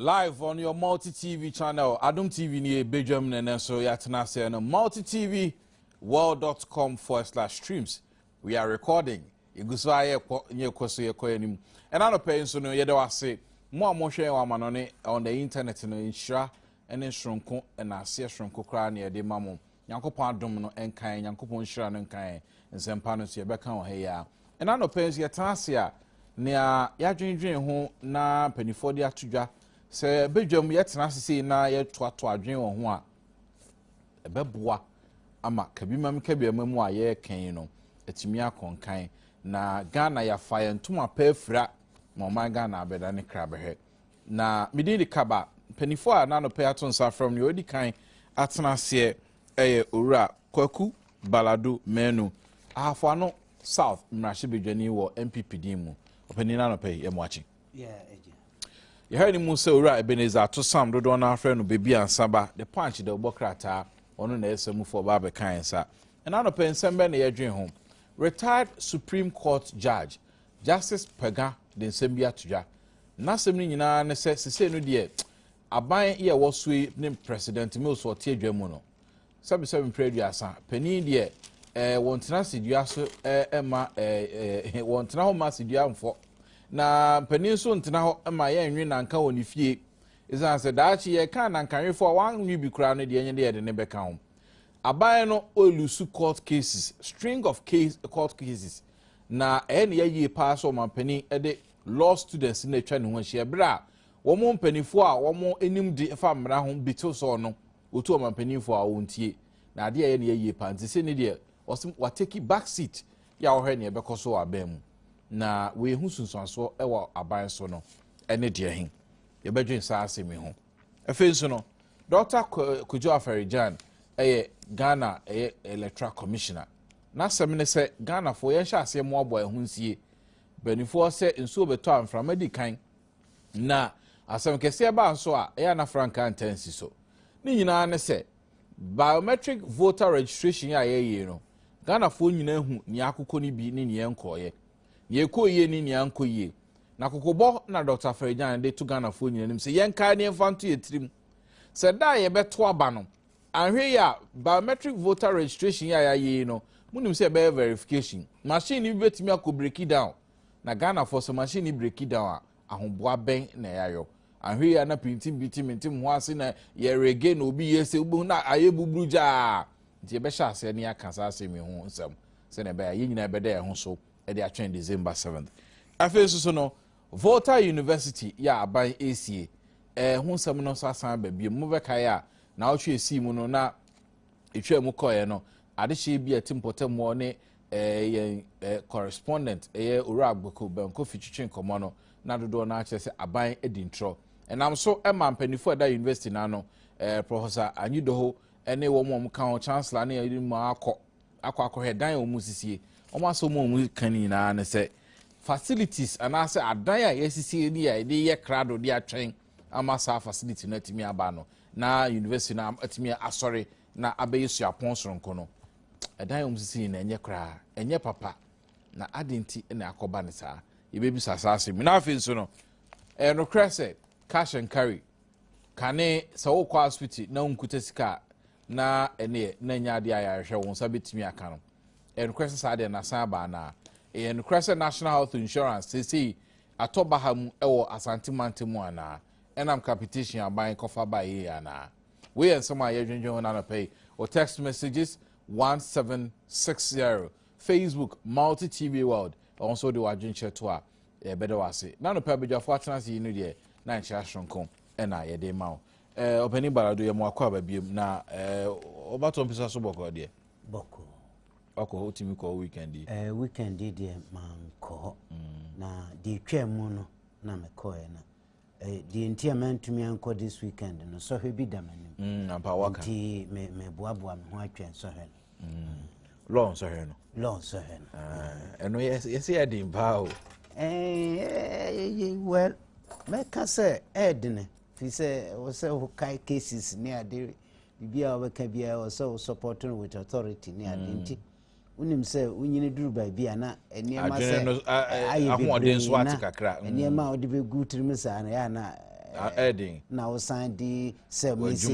live on your multi tv channel adom tv ni yɛ bedwam ne ne nso yɛatena aseɛ no multi tv world.com forward slash streams we are recording yɛgu so a yɛkɔ nyɛ kɔ so yɛkɔ anim ɛna anɔpɛ yi nso no yɛda wase mo a mohwɛ yɛn wɔ amanɔne on the internet no nhyira ne soronko na aseɛ soronko koraa na yɛde ma mo. Nyankopɔn adom no nka yɛn, Nyankopɔn nhyira no nka yɛn. Nsɛmpa no nso yɛbɛka wɔ ha yi ara. Ɛna anɔpɛ nso yɛtena ase a, nea yɛadwendwen ho na mpanimfoɔ de ato dwa sɛ badwam yɛtena ase sei na yɛtoatoa adwene wɔ ho a, ɛbɛboa ama kabimam kabiama mu a yɛreka yi no atumi akɔnkan na Ghana yɛafa yɛn ntoma pɛ afira ma ɔman Ghana abɛda ne kra bɛhwɛ. Na medin de Kaba. Mpanyinfoɔ a na anɔpɛ ato nsa afrɛ wɔn no, wɔadi kan atena aseɛ ɛyɛ Owura Kwaku Baladu Manu, Ahafoano South mmarahyɛbadwani wɔ NPP din mu. Ɔpanyin no anɔpɛ yi, yɛ mo akye. Yɛha ne mu sɛ Owura Ebenezer Atosam dodoɔ no afrɛ no Baby Ansaba, the punch dɛ ɔbɔ krataa, ɔno na ɛyɛ samufoɔ ɔba abɛka yɛn nsa. Ɛna anɔpɛ nsɛm bɛn na yɛdwen ho? Retired Supreme Court Judge Justice Pagah de nsɛm bi ato dwa. N'asɛm no nyinaa ara ne sɛ sesei no deɛ aban yɛ ɛwɔ so yi ne President Mills a ɔte adwa mu no, sɛbesɛbe mprɛ aduasa, panin deɛ eh, wɔntena asedua so eh, mma eh, eh, wɔntena hɔ mma asedua mfɔ. Na panin nso ntena hɔ mma yɛnwe nanka wɔ ne fie. Ɛsiane sɛ daakye yɛka nankanwefo a wɔanwe bi koraa no deɛ ɛnyɛ deɛ yɛde ne bɛka ho. Aban no ɔlusu court cases, string of case, court cases. Na ɛyɛ ne yɛ yie paa sɛ ɔmanpanin de law students na atwa ne ho ahyia berɛ a wɔn mpanimfoɔ a wɔn anim de fa mmara ho bi to sɔɔ no wɔtu ɔmanpaninfoɔ a wɔntie na adeɛ ɛyɛ ne yɛ yie paa nti sɛ ne deɛ wɔsɛ wateki back seat yɛ a wɔhwɛ ne ɛbɛkɔ so wɔ aban mu na wɔyɛ ho sunsuansoɔ wɔ aban so no ɛne deɛ he yɛbɛdwen saa asɛm yi ho Afei nso no, Dɔkta Kojo Afari-Gyan yɛ Ghana ɛyɛ Electoral Commissioner. N'asɛm ne sɛ Ghanafoɔ yɛnhyɛ aseɛ mmoaboa ɛho nsie. Mpanimfoɔ sɛ nsuo bɛtɔ a mframa di kan. Na asɛm kɛseɛ baa nso a ɛyɛ na frankaa ntaa nsi so. Ne nyinaa ne sɛ biometric voter registration a yɛyɛ no Ghanafoɔ nyinaa hu nea akokɔ no bi ne nea ɛnkɔɔyɛ. Nea ɛkɔɔ yie ne nea ankɔ yie. Na kokobɔ na Dɔkta Afari-Gyan de to Ghanafoɔ nyina anim sɛ yɛnkae na yɛmfa nto yɛn tirim sɛ da a yɛbɛto aba no, anhwɛ yi a biometric voter registration yi a yɛayɛ yi no, monim sɛ ɛbɛyɛ verification. Machine no bi bɛtumi akɔ breaki down. Na Ghanafoɔ sɛ machine no breaki down a, ahoboa bɛn na yɛayɔ? Anhwɛ yi a na pintim pintim mentem ho ase na yɛrege na obi yɛ sɛ wobɛhu na ayɛ buburu gyaa. Nti yɛbɛhyɛ aseɛ na yɛaka saa asɛm yi ho nsɛm sɛdeɛ ɛbɛyɛ a yɛn nyinaa yɛbɛda yɛn ho so de atwɛn December seventh. Afei nso so no, Volta University yɛ a aban esie ɛɛ ho nsɛm no nso asan ba bio. Mobɛkae a na ɔtwe esii mu no na etwa mu kɔɛ no adehye bi a ɛte mpɔtamuɔ ne ɛɛ yɛn ɛɛ correspondent ɛyɛ Owura Agbeko Bɛnkofi twitwe nkɔmɔ no na dodoɔ no akyerɛ sɛ aban adi ntorɔ. Ɛnam so ɛma mpanyinfoɔ ɛda university no ano ɛɛ Professor Anyidoho ɛne wɔn a wɔka ho chancellor ne ɛde mu akɔ akɔ akɔhwɛ dan a wɔn sisie wɔn asɛm a wɔn ka nyinaa ne sɛ facilities anaasɛ adan a yɛasisie ni a yɛde yɛ krado de atwɛn ama saa facility no atumi aba no na university no atumi asɔre na abɛyɛ suapɔn soronko no ɛdan a wɔn sisi nyinaa ɛnyɛ koraa ɛnyɛ papa na adi nti na akɔba ne saa yɛbɛbisa saa asɛm na afei nso no ɛyɛ nokorɛ sɛ cash and carry kane sɛ wokɔ asopiti na wonkuta sika a na ɛneɛ na ɛnyɛ adeɛ a yɛahwehwɛ wo nsa bɛtumi aka no ɛnokorɛ sɛ saa deɛ nasan aba anaa ɛyɛ nokorɛ sɛ national health insurance seesei atɔ baha mu ɛwɔ asante mante mu anaa ɛnam capitation aban kɔfa ba yie anaa wei yɛ nsɛm a yɛdwendwen ho nanɔpɛ yi o text messages 1760 facebook multi tv world ɛwɔ nso de wadwenkyerɛ to a ɛbɛda wɔ ase nanɔpɛ abadwafoɔ atena ase yi no deɛ na nkyerɛ asoronko ɛna yɛde ma wo Eh, ɔpɛni bara do yɛ mo akɔ aba biem na eh, ɔba tɔ mpisa so bɔkɔ deɛ. Bɔkɔ. Ɔkɔ o timi kɔ weekend yi. Eh, weekend yi deɛ maa nkɔ hɔ. Mm. Na deɛ etwa mu no na mekɔ yɛ na. Eh, deɛ nti a mantumi ankɔ this weekend no sɔhwɛ bi da m'anim. Mm, ampa waka. Nti me me boaboa me ho atwɛn sɔhwɛ no. Mm. Lɔɔ nsɔhwɛ no. Lɔɔ nsɔhwɛ no. Ah, ɛno yɛsi yɛ den paa o. Eh, eh, eh, well, mɛka sɛ ɛɛdene. Eh, Firi sɛ ɛwɔ sɛ wokae cases ne ade biribi a wobɛka biara ɛwɔ sɛ wo support no with authority ne ade mm. nti wonim sɛ wonyini duru baabi a na nneɛma sɛ ayɛ bebree na mm. nneɛma a wode bɛgu tirim saa no yɛ na ɛden na wosan de sɛ mese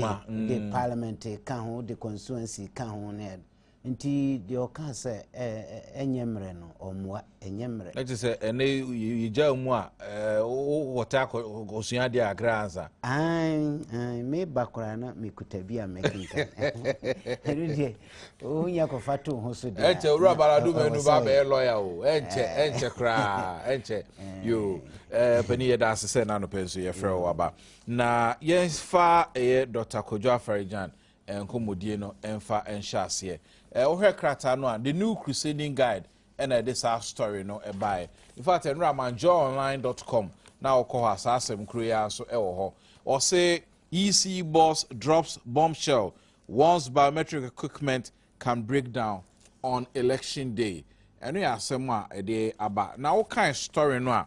de parliament ka ho de constituency ka ho ne ɛde Nti deɛ ɔka sɛ ɛnyɛ mmerɛ no ɔmmoa ɛnyɛ mmerɛ. Ɛte sɛ ɛnɛ yɛgya mu a wɔtɛ akɔsua adeɛ akra ansa. Meba koraa na mekuta bi a mɛkenkan. Ɛno deɛ wonya kɔfa to ho so deɛ. Ɛnkyɛ wura balado mɛnu ba bɛyɛ lɔya o ɛnkyɛ ɛnkyɛ koraa ɛnkyɛ yoo panin yɛda ase sɛ n'anopɛ nso yɛfrɛ wɔ aba na yɛmfa ɛyɛ Dr. Kojo Afarijan nkɔmmɔdie no mfa nhyɛ aseɛ. Eh, wohwɛ krataa no a, The New Crusading Guide ɛna ɛde saa story no ɛbaeɛ. In fact, ɛnora manjoonline.com na wokɔ hɔ a saa asɛm koro yi ara nso ɛwɔ hɔ. Ɔse, EC boss drops bombshell, warns biometric equipment can break down on election day. Ɛno yɛ asɛm a ɛde aba. Na wokae story no a,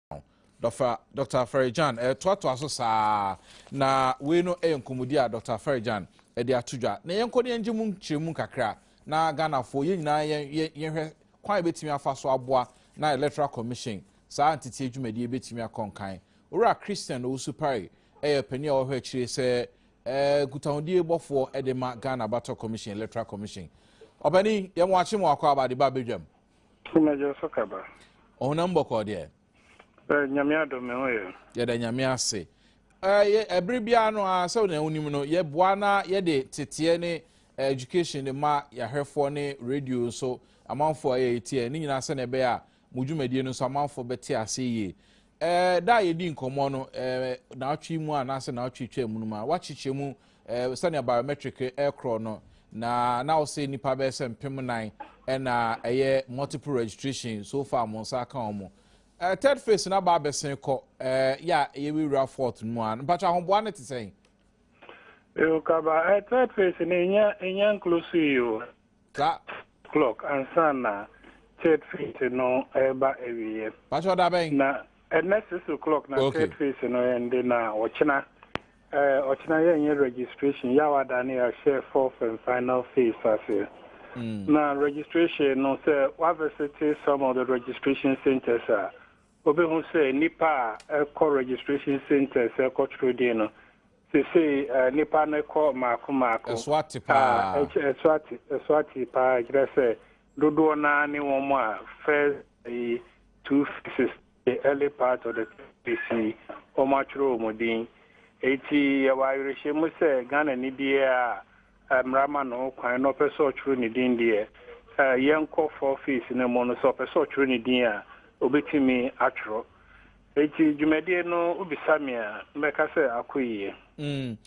Dɔfa Dɔkta Farigyan ɛɛtoatoa so saa na wei no ɛyɛ nkɔmɔdi a Dɔkta Farigyan ɛde ato dwa na yɛn kɔ ne yɛn gye mu nkyerɛ mu kakra na Ghanafoɔ yɛn nyinaa yɛn yɛn yɛn hwɛ kwan a yɛbɛtumi afa so aboa na Electoral Commission saa nteteɛ dwumadie bɛtumi akɔ nkan. Owura Christian Owusu Pare ɛyɛ panin a wɔhwɛ akyire sɛ ɛɛ nkutahodie bɔfoɔ ɛde ma Ghana Bato Commission Electoral Commission. Ɔpanin yɛn mo akye mo akɔ abade ba abɛdwam. Mmɛgye so kaba. Ɔhonam bɔkɔɔ deɛ. Bɛ nyame adom me ho yɛ. Yɛda nyame ase. Ɛyɛ ɛbere biara no a sɛ na wonim no yɛboa na yɛde teteɛ ne education de ma yɛahwɛfoɔ ne radio nso amanfoɔ a ɛyɛ tie ne nyinaa sɛnea ɛbɛyɛ a mo dwumadie no nso amanfoɔ bɛte ase yie. Eh, da a yɛdi nkɔmmɔ no, eh, naawɔtwe mu a anaasɛ naawɔtwe twa mu no mu a, woakyekyɛ mu eh, sɛnea biometric ɛkorɔ eh, no, na na wo sɛ nnipa bɛyɛ sɛ mpem nan ɛna eh, ɛyɛ multiple registration so far mo nsa aka wɔn mo. Eh, third phase no aba abɛsen kɔ eh, yɛ a yɛwura fourth no mu a, mpatwa ahoboa no te sɛn? Ewu kaba, eh, third phase no ɛnyɛ ɛnyɛ nkloso yi o. Sa. Clock ansa na third phase no reba awieɛ. Pakyɛ da bɛn? Na ɛnɛ six o'clock na okay. third phase no ɛnde na ɔkyena ɛɛ ɔkyena yɛn yɛ registration yaw ada ne yɛahyɛ fourth and final phase aseɛ. Mm. Na registration no sɛ wavesete some of the registration centers a wobɛhu sɛ nipa a ɛkɔ registration centers ɛkɔtwerɛ din no Sesei nnipa no kɔ mmaako mmaako. Eswati paa. Eswati, Eswati paa, ɛkyerɛ sɛ dodoɔ no ara ne wɔn a first ayi two phases, the early part of the third phase yi, wɔatwerɛ wɔn din. Enti yɛwɔ awerehyɛmu sɛ Ghanani biara a Mmara ma no ho kwan na ɔpɛ sɛ ɔtwerɛ ne din deɛ a, yɛnkɔ four phase no mu no, sɛ ɔpɛ sɛ ɔtwerɛ ne din a, ɔbɛtumi atwerɛ. Enti dwumadie no, wobisa me a, mɛka sɛ akɔ yie. Mm.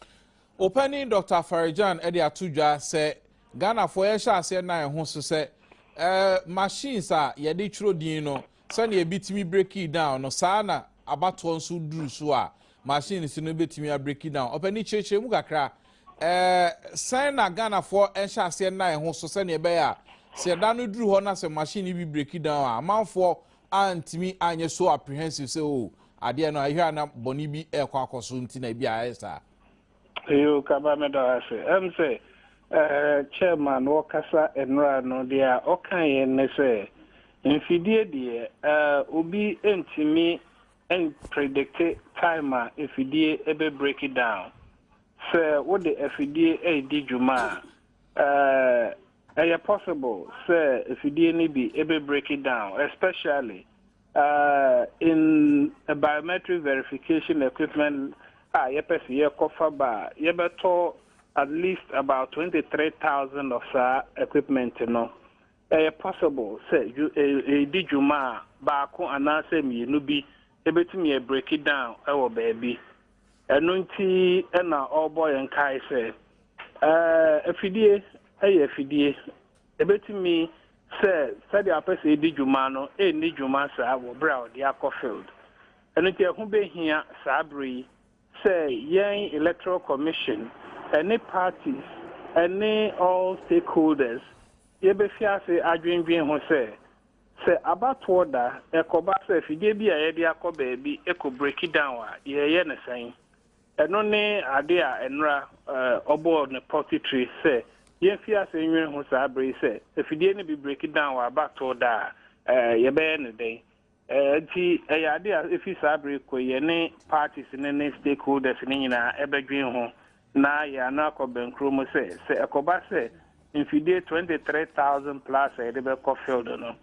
Opanin Doctor Farigyan de ato dwa sɛ Ghanafoɔ yɛhyɛ aseɛ nna yɛn ho so sɛ eh, machines a yɛde twerɛ din no, Sɛnea ebi tumi breki down no, saa ara na abatoɔ nso duru so a, machines no bɛtumi abreki down. Ɔpɛni kyerɛkyerɛ mu kakra. Ɛɛ sɛn na Ghanafoɔ nhyɛ aseɛ nna yɛn ho so sɛnea ɛbɛyɛ a sɛ ɛda no duru hɔ na sɛ machine no bi breki down a, amanfoɔ antumi anyɛ so apprehensive sɛ o oh, adeɛ no ayɛ a na bɔne bi ɛrekɔ akɔ so nti na ebi ayɛ saa. Yoo kaba me dɔ ase. Ɛm sɛ ɛɛ chairman ɔkasa nnora no deɛ ɔka yɛ ne sɛ mfidie deɛ ɛɛ obi ntumi mpredikte time a afidie ɛbɛ break down. Sɛ wo de afidie ɛɛdi dwuma a ɛɛ ɛyɛ possible sɛ afidie no bi ɛbɛ break down especially Uh, in a biometric verification equipment a yɛpɛ sɛ yɛkɔfa ba a yɛbɛtɔ at least about 23000 of saa equipment no ɛyɛ possible sɛ ɛdi dwuma a baako anaasɛ mmienu bi ɛbɛtumi break it down ɛwɔ baabi ɛno nti ɛna ɔrebɔ yɛn kae sɛ afidie ɛyɛ afidie Ebetumi sɛ sɛnea ɔpɛ sɛ edi dwuma no nni dwuma saa wɔ bere a ɔde akɔ field. Ɛno nti ɛho behia saa bere yi sɛ yɛn Electoral Commission ne parties ne all stakeholders yebefi ase adwendwen ho sɛ, sɛ abatoɔ da ɛkɔba sɛ afidie bi a yɛde akɔ baabi kɔ breaki down a, yɛyɛ no sɛn? Ɛno ne ade a nnora ɔbɔɔ no pɔ titire sɛ yemfi ase nnwene ho saa bere yi sɛ, Afidie no bi breki dan wɔ aba too da a, yɛbɛyɛ no dɛn? Enti ɛyɛ ade a efi saa bere kɔ yi yɛne parties no ne stakeholders no nyinaa ɛbɛdwen ho na yɛn ano akɔ bɛnkuro mu sɛ, sɛ ɛkɔba sɛ mfidie twenty three thousand plus a yɛde bɛkɔ field no,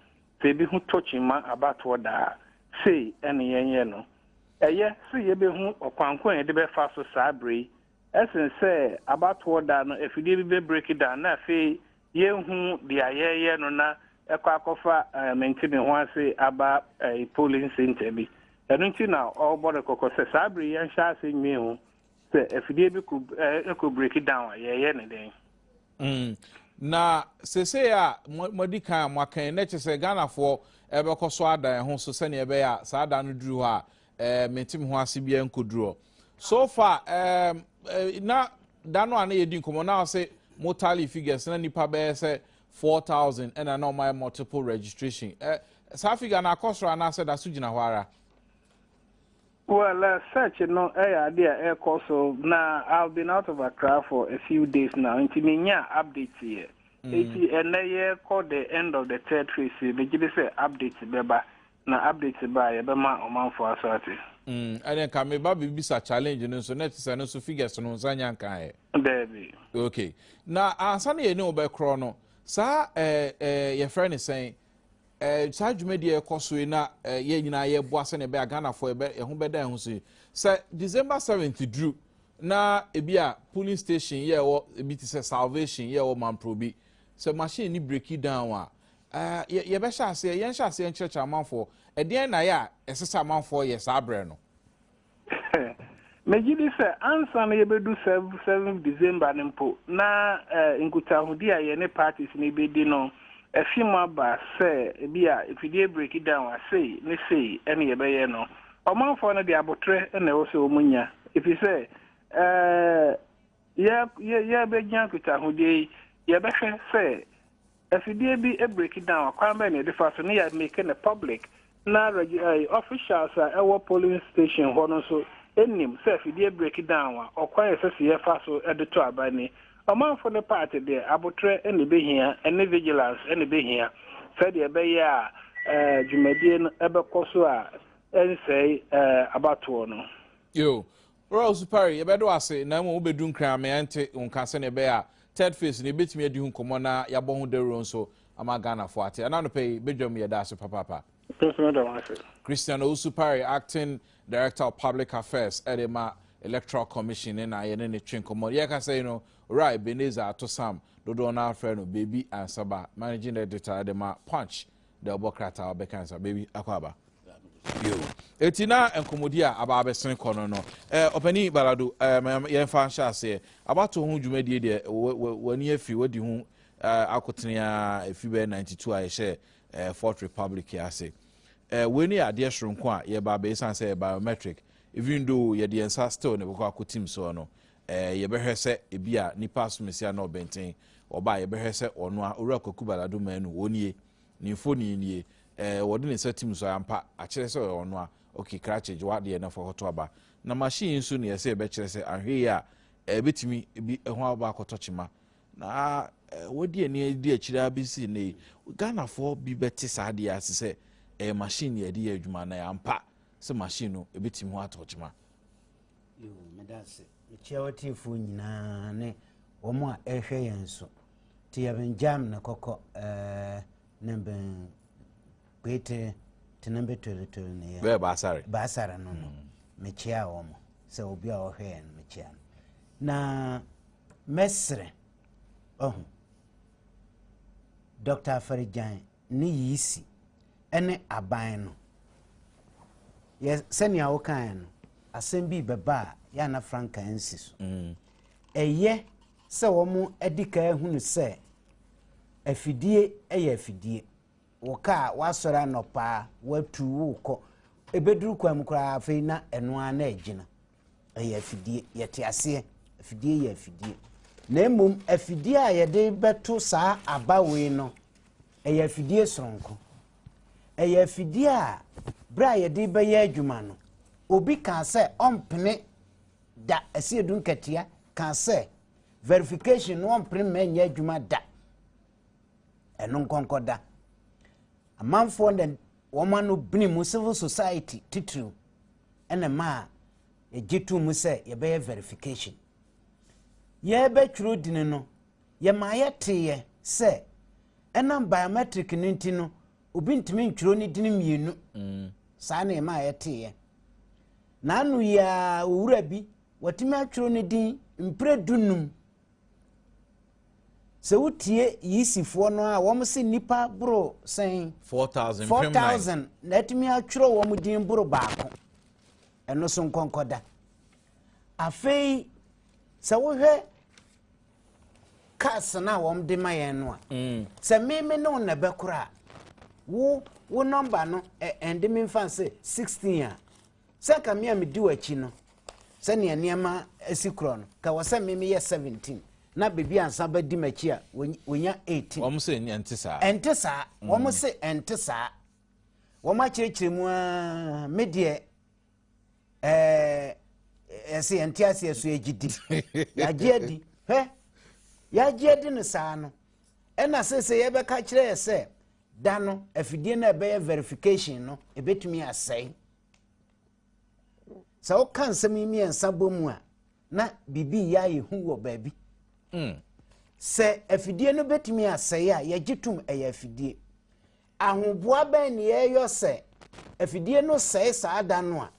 Sɛ yebehu tokyen ma abatoɔ da a, sei ne yɛnyɛ no. Ɛyɛ sɛ yebehu ɔkwan ko a yɛde bɛfa so saa bere yi sen sɛ abatoɔ da no afidie bi bɛ break down na afei yɛnhu deɛ yɛreyɛ no na ɛkɔ akɔfa mente-me-ho-ase aba polling centre bi. Ɛno nti na ɔrebɔ no kɔkɔ sɛ saa bere yi yɛnhyɛ ase nnwen ho sɛ afidie bi kɔ break down a yɛreyɛ no dɛn. Mm. Na sesei a moadi kan a moaka yi, na kyerɛ sɛ Ghanafoɔ ɛbɛkɔ so ada ɛho so sɛnea ɛbɛyɛ a saa da no duru hɔ a ɛɛ eh, mente me ho ase biara nkɔduru hɔ. So far ɛɛm eh, eh, na da no a na yɛdi nkɔmmɔ na ɔse mo tally figures na nipa bɛyɛ sɛ four thousand ɛna na ɔmayɛ multiple registration. Ɛ saa figure no akɔ soro anaasɛ da so gyina hɔ ara? Well eh search no ɛyɛ ade a ɛkɔ so na I have been out of Accra for a few days now nti me nyaa update yɛ eti ɛnɛ yɛ kɔ the end of the third phase yi me gye di sɛ update bɛba na update ba a yɛ bɛma ɔmanfoɔ aso ate. Mm ɛne nka me ba bɛ bisa challenge no nso na ɛte sɛ no nso figures no nsa nya nka yɛ. Daabi. Ok na ansa na yɛ ne wo bɛ korɔ no saa ɛɛ eh, eh, yɛ frɛ ne sɛn. Eh, saa dwumadi a ɛkɔ so yi na eh, yɛn nyinaa yɛboa sɛnea ɛbɛyɛ ghanafoɔ ɛbɛ ɛho bɛda ɛho so sɛ december 7th duru na ebi a polling station yɛ ɛwɔ ebi te sɛ salvation yɛ ɛwɔ mampro bi sɛ machine ni breki down a eh, yɛ yɛbɛhyɛ aseɛ yɛnhyɛ aseɛ nkyerɛkyerɛ amanfoɔ ɛdeɛn na yɛ a ɛsɛ sɛ amanfoɔ yɛ saa berɛ no Megye di sɛ ansa na yɛbɛdu seventh December no mpo, na nkutahodi a yɛne parties no bɛdi no afi mu aba sɛ ebi a mfidie break down a sei ne sei na yɛbɛyɛ no. Ɔmanfoɔ no deɛ aboterɛ na ɛwɔ sɛ wɔnya, ɛfiri sɛ ɛɛ. Yɛrebegyina nkitahodie yi, yɛbɛhwɛ sɛ afidie bi break down a, kwan bɛn na yɛde fa so na yɛ make no public na officials a ɛwɔ polling station hɔ no nso nim sɛ afidie break down a, ɔkwan a ɛsɛ sɛ yɛfa so de to aba ni. Ɔmanfo no part deɛ, abotrɛ na ɛbɛhia ne vigilance na ɛbɛhia sɛdeɛ ɛbɛyɛ a dwumadie no bɛkɔ so a ɛnsɛe abatoɔ no. Yo, Ora Osupare, Yɛbɛda wo ase, na mmom wobɛdu nkran ama yɛnte wo nka sɛnea ɛbɛyɛ a Third Phase no yɛbɛtumi adi ho nkɔmmɔ na yɛabɔ ho dawuro nso ama Ghanafoɔ ate. Ɛna anɔpa yi, badwam yɛda ase papaapa. Me nso meda wo ase. Christian Owusu-Parry, Acting Director of Public Affairs de ma Electoral Commission no na yɛne no twe nkɔmmɔ. Yɛrekasa yi no, Owura Ebenezer Atosam, dodoɔ no ara frɛ no Baby Ansaba, Managing Editor de ma Punch dɛ ɔbɔ krataa a ɔbɛkan sa baabi akɔ aba bio eti na nkɔmɔdi a aba abɛsen kɔ no no ɛɛ ɔpanin balado ɛɛ yɛn fa nhyɛ aseɛ abato ho dwumadie deɛ w'ani afiri w'adi ho ɛɛ akotene a efi bɛyɛ ninety two a yɛhyɛ ɛɛ fourth republic ase ɛɛ wei ne adeɛ soronko a yɛba abɛɛsan sɛ biometric even though yɛde yɛn nsa still ne kɔkɔ akotim soɔ no Eh, yɛbɛhwɛ sɛ ebi a nipa asomesia na ɔbɛnten ɔba a yɛbɛhwɛ sɛ ɔno a owura kwaku balado manu wɔn nie ne mfoni nie eh, wɔde ne nsa tim so ampa akyerɛ sɛ ɔyɛ ɔno a ok krakye gye wadeɛ na fa hɔto aba na machine nso ne yɛsɛ yɛbɛkyerɛ sɛ ahwɛ yi a ɛbɛtumi eh, bi ɛho eh, aba akɔtɔ kyema na eh, wɔdi ani adi akyire a bɛsi ne ghanafoɔ bi bɛte saa deɛ ase sɛ ɛyɛ machine yɛde yɛ adwuma na yɛ ampa sɛ machine no ɛbɛtumi ho atɔ kyema Yoo, meda ase. Mekyia w'atiefo nyinaa ne wɔn a ɛrehwɛ yɛn nso. Te yɛbɛn gyam na kɔkɔ ɛɛ ne bɛn kweete te ne bɛ toritoli ne yɛ. Bɛɛ baasare. Baasare no no. Mm. Mekyia wɔn sɛ obi a ɔhwɛ yɛn mekyia no. Na mɛsrɛ ɔho. Dr. Afarigyan ne yiisi ne aban no, yɛ sɛnea wokaeɛ no, asɛm bi bɛba a yɛ ana franka nsi so. Mm. Ɛyɛ sɛ wɔadi kan ahunu sɛ afidie yɛ afidie. Wo kaa woasɔre anɔpaa, woatu wokɔ. Ɛbɛduru kwan mu koraa afei na ɛno ara na agyina. ɛyɛ afidie yɛte aseɛ afidie yɛ afidie na mmom afidie a yɛde bɛto saa aba wei no ɛyɛ afidie soronko ɛyɛ afidie a berɛ a yɛde bɛyɛ adwuma no obi kaa sɛ ɔmpene da ɛsi edu nkatia kaa sɛ verification no ɔmpene mma ɛnyɛ adwuma da ɛno nkɔnkɔ da amanfoɔ na wɔn ano bene mu civil society titiriw na ɛmaa yɛgye too mu sɛ yɛbɛyɛ verification. Yɛrebɛtwerɛ din no, yɛmaa yɛteeɛ sɛ ɛnam biometric no nti no, obi ntumi ntwerɛ ne din mmienu. Mm. Saa na yɛmaa yɛteeɛ. Na ano yi ara owura bi, watumi atwerɛ ne din mprɛ dunum. Sɛ wo tie Yisi foɔ no a wɔn se nipa boro sɛn. Four thousand. Four thousand na atumi atwerɛ wɔn din boro baako. Ɛno so nkɔnkɔda. Afei sɛ wohwɛ cars no a wɔn de ma yɛn no a. Mm. Sɛ meme ne wo na ɛbɛkora a wo wo nɔmba no ɛnde me nfa se sixteen a. Sɛ anka me a medi w'akyi no, sɛnea nneɛma si korɔ no, ka wɔ sɛ me meyɛ 17 na baabi ansa ba di m'akyi a wɔnya 18. Wɔn se ɛnte saa. Ɛnte saa. Mm. Wɔn se ɛnte saa. Wɔn akyerɛkyerɛ mu aa me deɛ ɛɛ ɛsɛ yɛn te aseɛ so yɛgye di yɛagye adi hwɛ yɛagye adi no saa no ɛna sɛ sɛ yɛbɛka kyerɛ yɛ sɛ. da no afidie no a ɛbɛyɛ verification no ɛbɛtumi asɛe sɛ woka nsɛm yi mmiɛnsa bɔ mu a na biribi yɛ ayɛ hu wɔ baabi hmm. sɛ afidie no bɛtumi asɛe a yɛgye tom ɛyɛ afidie ahoboa bɛn ne yɛyɔ sɛ afidie no sɛe saa da no a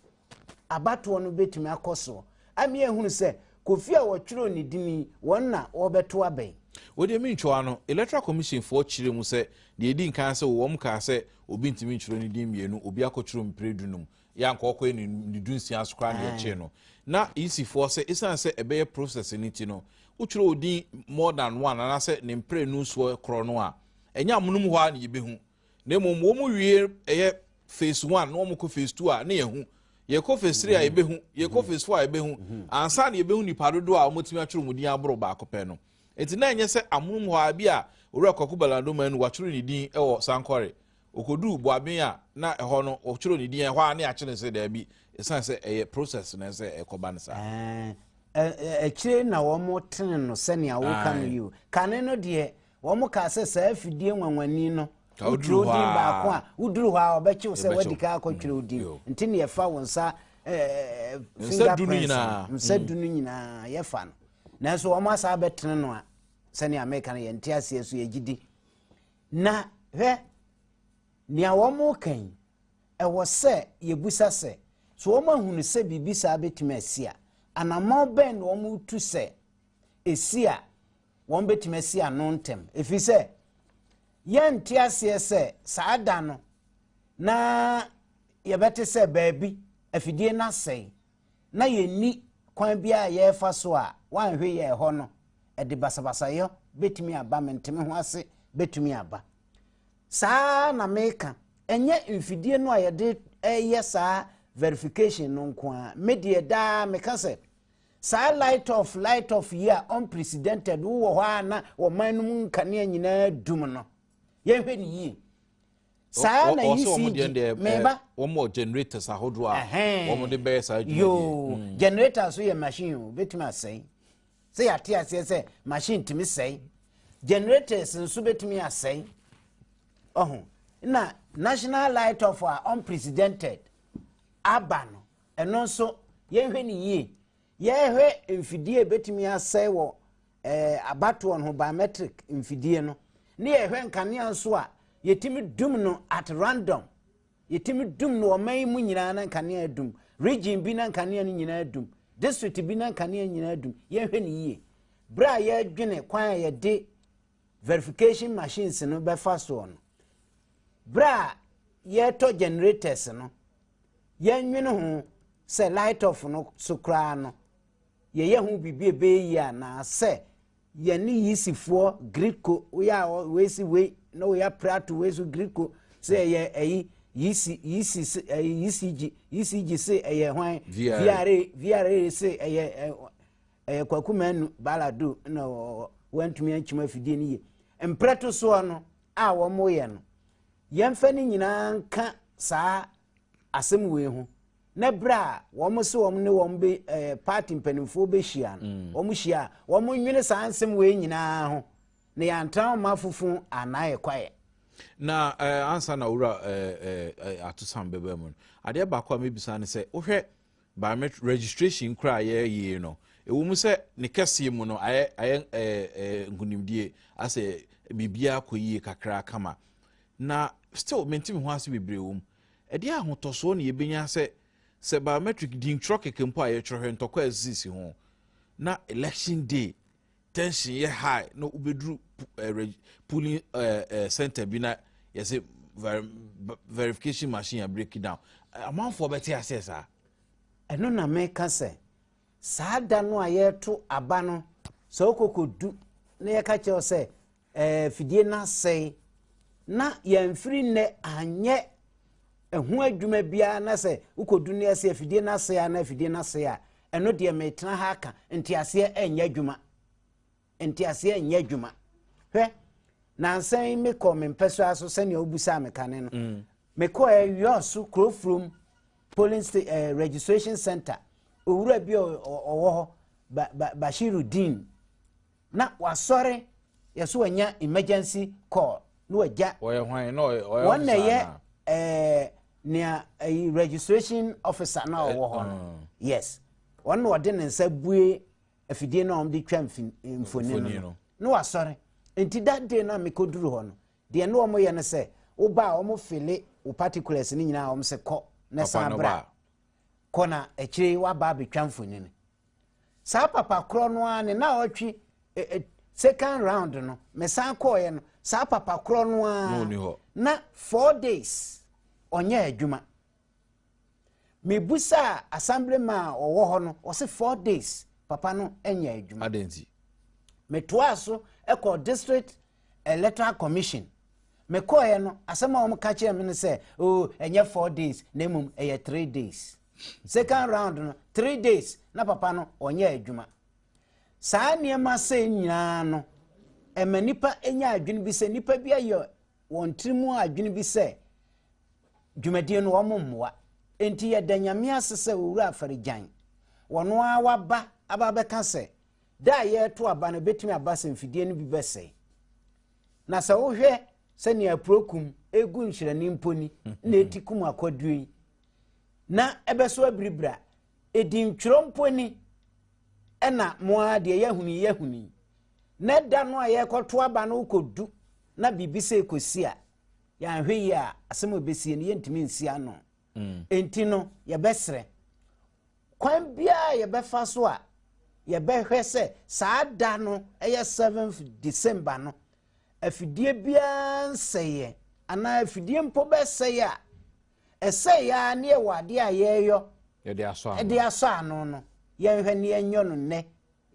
abatoɔ no bɛtumi akɔ soɔ ama yɛahunu sɛ Kofi a wɔtwerɛɛ ne din yi, wɔn na wɔbɛto aba yi. Wei deɛ mentwerɛ ano. Electoral Commission foɔ kyerɛɛ mu sɛ deɛ ɛdi nkan sɛ wɔn kaa sɛ obi ntumi ntwerɛ ne din mmienu, obi akɔtwerɛ mprɛ dunum, yɛ anka ɔkɔyɛ ne ne dunsia so koraa na yɛkyee no. Na EC foɔ sɛ ɛsiane sɛ ɛbɛyɛ process no nti no, wotwerɛ wo din more than one anaasɛ ne mprɛ nu soɔ korɔ no a, ɛnyɛ amonom hɔ ara na yɛbɛhu. na mmom wɔn wie ɛyɛ phase one na wɔn kɔ phase two a ne yɛ ho yɛkɔ phase three a mhm. yɛbɛhu yɛkɔ mhm. phase four a yɛbɛhu mhm. ansa na yɛbɛhu nipa dodoɔ a wɔtumi atwerɛ wɔn din aboro baako pɛ no nti na ɛnyɛ sɛ amonom hɔ a bi a owura kɔkɔ balado man no watwerɛ ne din wɔ sankɔre okodu boaben a na ɛhɔ no wɔtwerɛ ne din ɛhɔ a ne akyerɛ sɛ daabi ɛsiane sɛ ɛyɛ process na ɛsɛ ɛkɔba no saa akyire na wɔn tene no sɛnea woka no yi o kane no deɛ Wɔkaa sɛ saa afidie nwanwani no, wotwerɛ din baako a, woduru hɔ a ɔbɛkyew sɛ wadi kan akɔtwerɛ wo din. Nti ne yɛfa wo nsa finger prints no, nsa du no nyinaa yɛfa no. Nanso wɔn asa abɛtene no a, sɛnea meka no yɛnte aseɛ so yɛgye di. Na hwɛ, nea wɔka yi, ɛwɔ sɛ yɛbusa sɛ, so wɔn ahunu sɛ biribi saa bɛtumi asi a, anammɔn bɛn na wɔtu sɛ ɛsi a wɔbɛtumi asi ano ntɛm ɛfiri sɛ yɛnte aseɛ sɛ saa da no na yɛbɛte sɛ baabi afidie no asɛe na yɛnni kwan bi a yɛrefa so a wanhwe yɛ ɛhɔ no ɛde basabasayɛ bɛtumi aba menteme ho ase bɛtumi aba saa na meka ɛnyɛ mfidie no a yɛde ɛyɛ saa verification no nko a medeɛ daa meka sɛ Saa light off light off yi a unprecedented wo wɔ hɔ a na ɔman no mu nkanea nyinaa dum no yɛnhwɛ ne yie saa na yi si gye meba wɔn wɔ generators ahodoɔ a wɔn de bɛyɛ saa adwuma yoo mm. generator so yɛ machine o betumi asɛe sɛ yɛate aseɛ sɛ machine tumi sɛe generators nso betumi asɛe ɔho na national light off a unprecedented aba no Ɛno nso, yɛnhwɛ no yie. Yɛhwɛ mfidie a ɛbɛtumi asɛe wɔ eh, abatoɔ no ho, biometric mfidie no, ne yɛhwɛ nkanea nso a yɛtumi dum no at random. Yɛtumi dum no ɔman yi mu nyinaa na nkanea adum. Region bi na nkanea no nyinaa adum. District bi na nkanea nyinaa adum. Yɛnhwɛ no yie. Berɛ a yɛdwene kwan a yɛde verification machines no bɛfa soɔ no, Berɛ a yɛretɔ generators no, yɛnnwene ho sɛ light off no so koraa no, yɛyɛ ho biribi a ɛbɛyɛ yie anaa sɛ yɛne yisifoɔ griko woyɛ a wei si wei na woyɛ apere ato wei so griko sɛ ɛyɛ ɛyi yisi yisi se ɛyɛ yisigi e yisigi e se ɛyɛ hwan vra vra e se ɛyɛ ɛyɛ kwakumanu baladu na wɔntumi ankyima afidie no yie mprɛto soɔ no a wɔyɛ no, yɛmfa ne nyinaa nka saa asɛm wei ho na berɛ a wɔn se wɔn ne wɔn bɛ ɛɛ eh, paati mpanimfoɔ bɛhyia no mm. wɔn hyia a wɔn nwene saa nsɛm wei nyinaa ho na yɛantra wɔn afofo anaa ɛkwaeɛ. na ɛɛ eh, ansa na owura ɛɛ eh, ɛɛ atosam bɛbɛ mu no adeɛ baako a mebisa ne sɛ wohwɛ Biometric registration nkura a yɛyɛ no, ɛwɔ mu sɛ ne kɛseɛ mu no ayɛ ayɛ ɛɛ ɛɛ nkunimdie asɛ biribiara kɔ yie kakra kama na still mente me ho ase bebree wɔ mu ɛdeɛ ahotɔsoɔ na yɛbɛnya sɛ sɛ biometric din twerɛ kɛkɛ mpo a yɛtwerɛ hwɛ ntɔkwa a ɛsisisi ho na election day tension yɛ high na wobɛduru eh, pulling eh, eh, center bi na yɛsɛ verification machine a break down amanfoɔ bɛte aseɛ saa ɛno na meka sɛ saa da no a yɛto aba no sɛ wokɔkɔdu na yɛka kyerɛ sɛ ɛɛ fidie no asɛe na yɛmfiri nnɛ anyɛ ɛho adwuma biara na sɛ wokɔdu no ɛsɛ afidie no asɛe a na afidie no asɛe a ɛno deɛ metena ha aka nteaseɛ ɛnyɛ adwuma nteaseɛ ɛnyɛ adwuma hwɛ nansa yi mekɔ me mpɛ so aso sɛnea wobusaa me kane no mm. mekɔ ɛwiɔ so kurofurom polling state eh, registration center owura bi ɔwɔ hɔ bashiru dean Na wasɔre yɛ so anya emergency call na wagya. Wɔyɛ hwan na ɔyɛ ɔyɛ Wɔn na ɔfisa ɛyɛ na. ɛɛ nea ɛyi registration officer na ɔwɔ hɔ no. mm. Yes. Wɔn na ɔde ne nsa bue afidie na wɔn de twa mfin- mfoni Mfoni no no. no. Na wasɔre. Nti that day na mekɔduru hɔ no, deɛ ne wɔn yɛ no sɛ, woba a wɔn fele wo particulars no nyinaa wɔn sɛ kɔ na Papa san no bra. ba. Kɔ na akyire yi waba abɛtwa mfoni no. saa papa korɔ no ara ne na ɔtwe eh, eh, second round no mesan kɔɔeɛ no saa papa korɔ no ara na four days ɔnyɛ adwuma mebusaa assembly ma a ɔwɔ hɔ no ɔse four days papa no nyɛ adwuma metoaa so ɛkɔ district electoral commission mekɔɔeɛ no asɛm a wɔka kyerɛ me no sɛ o oh, ɛnyɛ four days na mmom ɛyɛ three days second round no three days na papa no ɔnyɛ adwuma saa nneɛma sɛ nyinaa no ɛma nipa nya adwene bi sɛ nipa bi ayɛ wɔn tiri mu adwene bi sɛ dwumadie no wɔn mmoa nti yɛda nyame ase sɛ owura afarigyan wɔn ara waba aba bɛka sɛ da a yɛreto aba no betumi aba sɛ mfidie no bi bɛsɛe na sɛ wohwɛ sɛnea apurokum egu nhyerɛni mponi na eti kum akɔdue yi. na ɛbɛso abiri bra. Edintwerɛ mpo ni, ɛna mo ara deɛ yɛahunu yi yɛahunu yi. Na ɛda no a yɛrekɔto aba no rekɔdu na biribi sɛ rekɔsi a, yɛanhwɛ yie a, asɛm a ɛbɛsie no yɛntumi nsi ano. Mm. Enti no, yɛbɛsrɛ. Kwan biara yɛbɛfa so a, yɛbɛhwɛ sɛ saa da no ɛyɛ 7th December no, afidie biara nsɛeɛ anaa afidie mpo bɛsɛe a, Ɛsɛ yaa ne yɛwɔ adeɛ a yɛreyɔ Yɛde asɔ ano. de asɔ ano no. Yɛnhwɛ ne yɛnyɔ no nnɛ.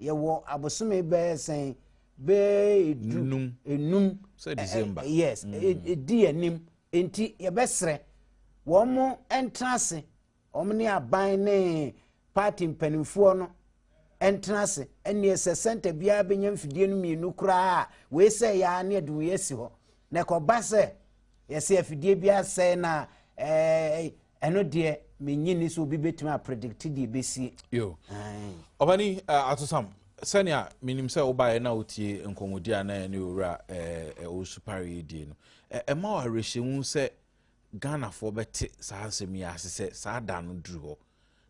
Yɛwɔ abosome bɛyɛ sɛn? Bɛyɛ du Num. enum. Sɛ Ɛ- ɛ- December. ɛ- Yes, ɛ- ɛdi yɛn anim. Enti yɛbɛsrɛ wɔn mo ntra ase, wɔn ne aban ne party mpanimfoɔ no ntena ase. Ɛnneɛ sɛ sɛnta biara bɛnya mfidie no mmienu koraa a, wei sɛ yɛ ara ne yɛde wei asi hɔ. Na ɛkɔba sɛ yɛsɛ afidie bi asɛe no a, ɛɛ ɛno deɛ menyi ni sɛ obi bɛtumi apredikte deɛ ɛbɛsie. Yo. Ɔbani uh, Atosam, sɛnea menim sɛ wobaeɛ na wotie nkɔmmɔdi a na ɛne owura ɔwosupare yi die no, ɛma wo awerɛhyɛmu sɛ ghanafoɔ bɛte saa nsɛm yi ase sɛ saa da no duru hɔ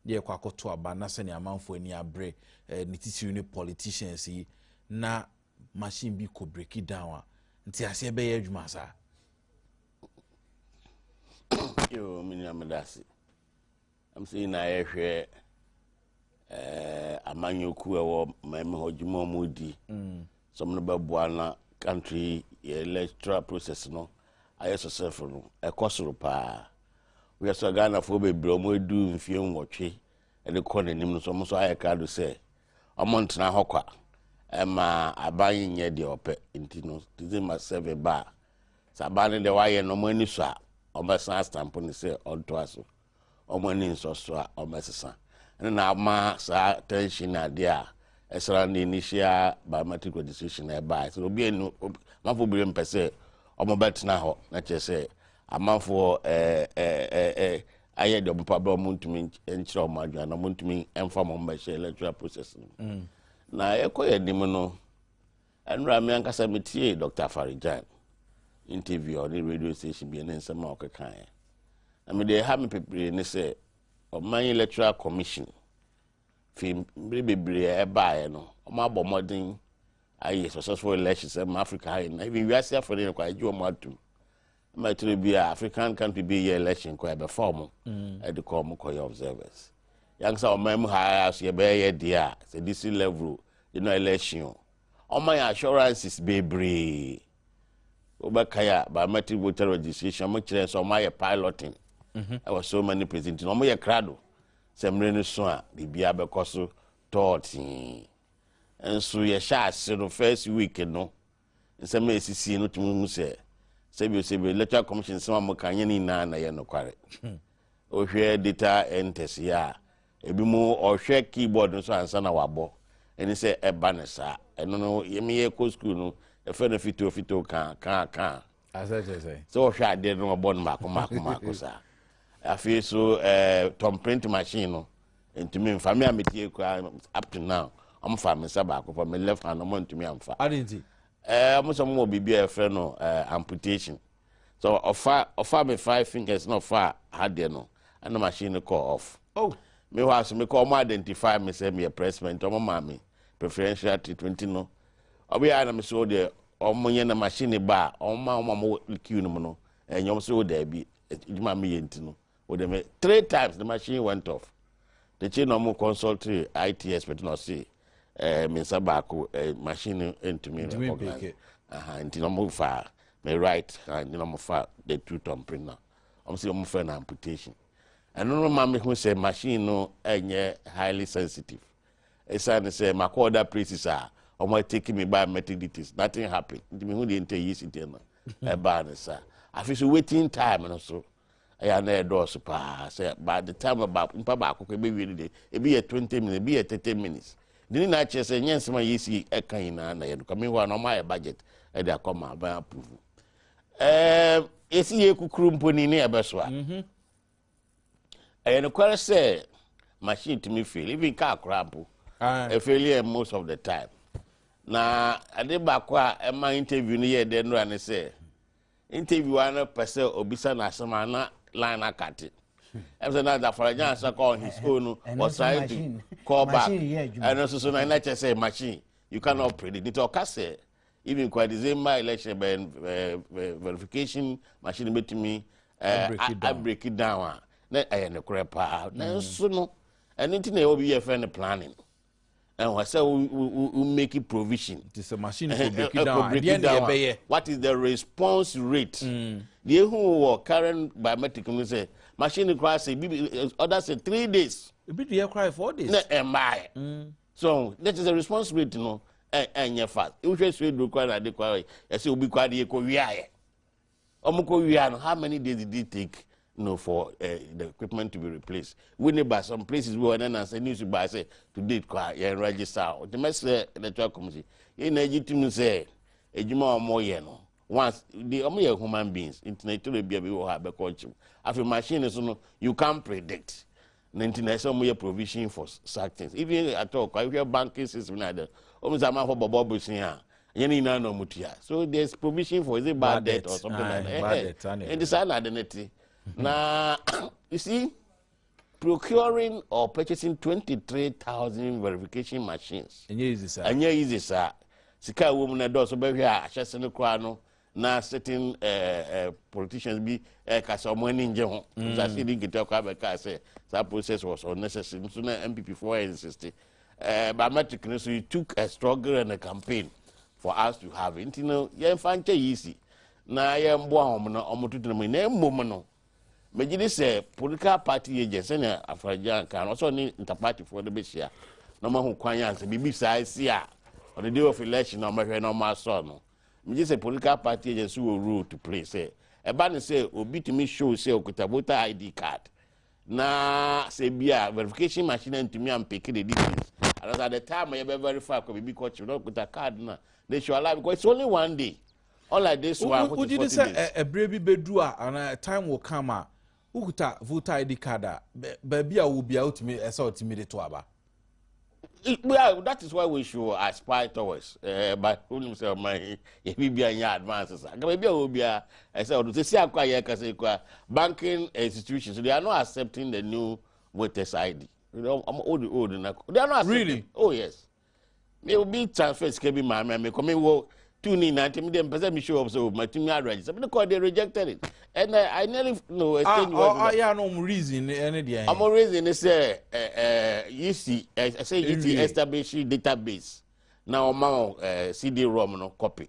Deɛ ɛkɔ akɔto aba na sɛnea amanfoɔ ani abre eh, ne titiri ne politicians yi na machine bi kɔ breaki down a nti aseɛ bɛyɛ adwuma saa yo menua meda ase ɛm sɛ nyinaa yɛhwɛ eh, amanyɔku ɛwɔ mami hɔ dwuma ɔmo di mm. sɛ ɔmo no bɛboa na country yɛ electoral process no ayɛ sɔsɛfo no ɛkɔ soro paa Wohwɛ sɛ Ghanafoɔ bebree a wɔadu mfeɛ nwɔtwe de kɔ n'anim no nso, wɔn nso ayɛ krado sɛ wɔntena hɔ kwa ɛma aban nyɛ deɛ ɔpɛ nti no december seven ba a sɛ aban no deɛ wayɛ no wɔn ani so a wɔbɛsan astampo no sɛ ɔntoa so wɔn ani nsɔ so a wɔbɛsesa ɛno na ama saa tension na adeɛ a ɛsra ne initial biometric registration na ɛbaa sɛ obi anu mafo bi mpɛ sɛ wɔbɛtena hɔ na kyerɛ sɛ Amanfoɔ ayɛ deɛ ɔmo pɛ berɛ a ɔmo ntumi nkyerɛ ɔmo adwene na ɔmo ntumi mfa ɔmo mmɛhyɛ electoral process no mu. Mm. Na ɛkɔ yɛ anim no, ɛnura mi ankasa mi tie Dr. Afarijan interview a ɔne radio station bi ne nsɛm a ɔkeka yɛ. Na mi deɛ ɛha mi pepere ne sɛ ɔman electoral commission fi mmiri bebree a ɛbaeɛ no ɔmo abɔ mmɔden ayɛ successful elections ɛma Africa ha yɛ na even wiase afɔ ne yɛ kɔ agye ɔmo atum. ma ɛtene bi a african country bi yɛ election kɔ ɛbɛfa ɔmo mm. ɛde kɔ ɔmo kɔyɛ observers yankasa ɔman mu ha so yɛbɛyɛ deɛ a sɛ dc level de no election o ɔma yɛ assurances bebree wobɛka yɛ a biometric voter registration ɔmo kyerɛ sɛ ɔmo ayɛ piloting mhm. ɛwɔ so many places nti na ɔmo yɛ krado sɛ mmerɛ no so a biribiara bɛkɔ so tɔɔtee nso yɛhyɛ ase no first week no nsɛm a esisii no tumi hu sɛ sɛbiosebi Electoral Commission nsɛm a wɔka nyɛ ne nyinaa na ɛyɛ nokware. Hmm. Wohwɛ data enters yi a ebi mu ɔhwɛ keyboard no so ansa na wabɔ ɛne sɛ ɛba no saa ɛno no yɛmeyɛ kɔ sukuu no ɛfɛ no fitoo fitoo kaa kaa kaa Asa kyerɛ sɛ. Sɛ wɔhwɛ adeɛ no wɔbɔ no mako mako mako saa. Afei so ɛɛ tɔn print machine no ntumi nfa mi a mi tie kura up to now wɔn fa mi nsa baako pɔ mi left hand wɔn ntumi anfa. Adi nti. Ɛɛ wɔn sɛ wɔn wɔ biribi a yɛfrɛ no ɛɛ amputation. So ɔfa ɔfa mi five fingers na ɔfa ha deɛ no ɛna machine no kɔ off. Oh. Mi hɔ aso mi kɔ wɔn identify mi sɛ mi yɛ pressment wɔn maa mi preferential treatment no. Ɔbɛyɛ a na mi so deɛ Wɔn yɛ no machine ba a wɔn ma wɔn a wɔwɔ queue no mu no ɛnyɛ wɔn so yɛ daabi adwuma mi yɛ nti no o de me three times the machine went off de kye na wɔn consult IT expert na ɔsi ɛɛ mi nsa baako ɛɛ machine ntumi recognize aha nti na wɔn fa me right hand na wɔn fa the two thumb print na wɔn si wɔn fɛ na amputation ɛno no ma mi hu sɛ machine no ɛnyɛ highly sensitive Esiane sɛ makɔ other places a, wɔn a take me by Methodists, nothing happen. Nti mehu deɛ nti ɛyi si deɛ no ɛbaa ne saa. Afei so waiting time no so ɛyɛ na ɛdɔɔso paa sɛ by the time no baako nipa baako kɔ ɛbɛwie no deɛ ebi yɛ twenty minutes ebi yɛ thirty minutes ne nyinaa kyerɛ sɛ nyɛ nsɛm a yɛsi ɛka nyinaa na yɛ no kame hɔ a na ɔmo ayɛ budget ɛde akɔ ma abɛn approve ɛɛ yɛsi yɛ kukuru mpo ni ne ɛbɛso a mhm. Ɛyɛ nokware sɛ machine tumi fail, even car koraa mpo. Ɛfail yɛ most of the time. Na ade baako a ɛma interview no yɛ dɛ nora ne sɛ, interview a no pɛ sɛ obisa no asɛm a na line no akate. Ɛm sɛ na Zafaragyan asa kɔ on his own no, was trying to call back. Ɛno nso so na ɛna kyɛ sɛ machine, you cannot predict. Nti ɔka sɛ, even kwa december election bɛ verification machine bɛtumi abreki down a na ɛyɛ nokorɛ paa nanso no ɛno nti na ɛwɔ bi yɛ fɛ no planning ɛwɔ sɛ wo make provision ti sɛ machine kò breki down adeɛ na ɛbɛyɛ what is the response rate mm. deɛ ehu wɔ current biometric no sɛ machine kora sɛ bi ɔda sɛ three days ebi deɛ kora four days na ɛmaa yɛ. So ɔho? Nɛ kyerɛ sɛ response rate no ɛnyɛ fast. Wohwɛ Swedru kora na ade kora ɛsɛ obi kora de yɛkɔ wiaeɛ. Ɔmo kɔ wia no, how many days did it take you know, for uh, the equipment to be replaced? We ne ba some places bi wɔ ɛnɛ na sɛ news ba sɛ to date kora yɛn register a ɔte mɛsrɛ electoral commission yɛn na egye tum sɛ adwuma a wɔn yɛ no once de wɔn yɛ human beings ntina ekyirɛ bi a bi wɔ hɔ a bɛkɔ nkyew afei machine so no you can predict Ne nti na ɛsɛ wɔn yɛ provision for such things even at all kwa hwɛ banking system na de wɔn sɛ amanfo bɔbɔ bosin a ɛnyɛ ne nyinaa na wɔn tua so there is provision for is it bad, bad debt, or something like that ɛhɛ eh, eh. ɛnti saa na ade ne ti na you see procuring or purchasing twenty three thousand verification machines ɛnyɛ easy saa ɛnyɛ easy saa sika a wɔn mu na ɛdɔɔso bɛhwɛ a ahyɛse no koraa no na certain eh, eh, politicians bi ɛka sɛ ɔmo ani ngye ho mm. sase di nketewa kɔ abɛka sɛ saa process was unnecessary nso na mpp foɔ insist eh, biometric no so it took a struggle and a campaign for us to have nti no yɛmfa nkyɛ yi si na yɛmboa wɔn na wɔn tutu mu na mmom no megye di sɛ political party agent sɛnea afɔrɔgya nka no ɔsɛ ɔne ntapaatifoɔ no bɛhyia na wɔn ahu kwan yɛ ansa biribi saa si a ɔde day of election na wɔn ahwɛ na wɔn asɔ no. Megye sɛ political party agents so wɔ role to play sɛ ɛba ne sɛ obi tumi show sɛ okuta voter ID card na sɛ bi a verification machine antumi ampeke the details anasa at the time a yɛbɛ verify kɔ biribi kɔ kyew na okuta card na they should allow because it's only one day unlike this one which is 40 days. Wogye di sɛ ɛberɛ bi bɛduru a anaa a time will come a Wokuta voter ID card a, baabi a wowɔ biara wotumi ɛsɛ ɔtumi de to aba. Yeah, that is why we should aspire towards eh, but wonim sɛ ɔma yi yɛbi bia nyɛ advance sa nka baabi a wɔ biara ɛsɛ ɔdo sɛ si akɔ a yɛka sɛ kɔ a banking institutions they are not accepting the new voters id wode old na they are not accepting really? oh yes me obi transfer sika bi maa me a mekɔ mewɔ two ne nyinaa nti mede mpɛ sɛ me show up so matumi arrange sɛ mede kɔɔ they rejected it and uh, I nearly no ah, exchange words with oh, them. ɔyɛ no ɔmo reason ne ɛne deɛ yɛn. ɔmo reason ne sɛ ɛɛ ɛɛ UC ɛsɛ UC establish database na ɔma wɔn ɛɛ CD-ROM no copy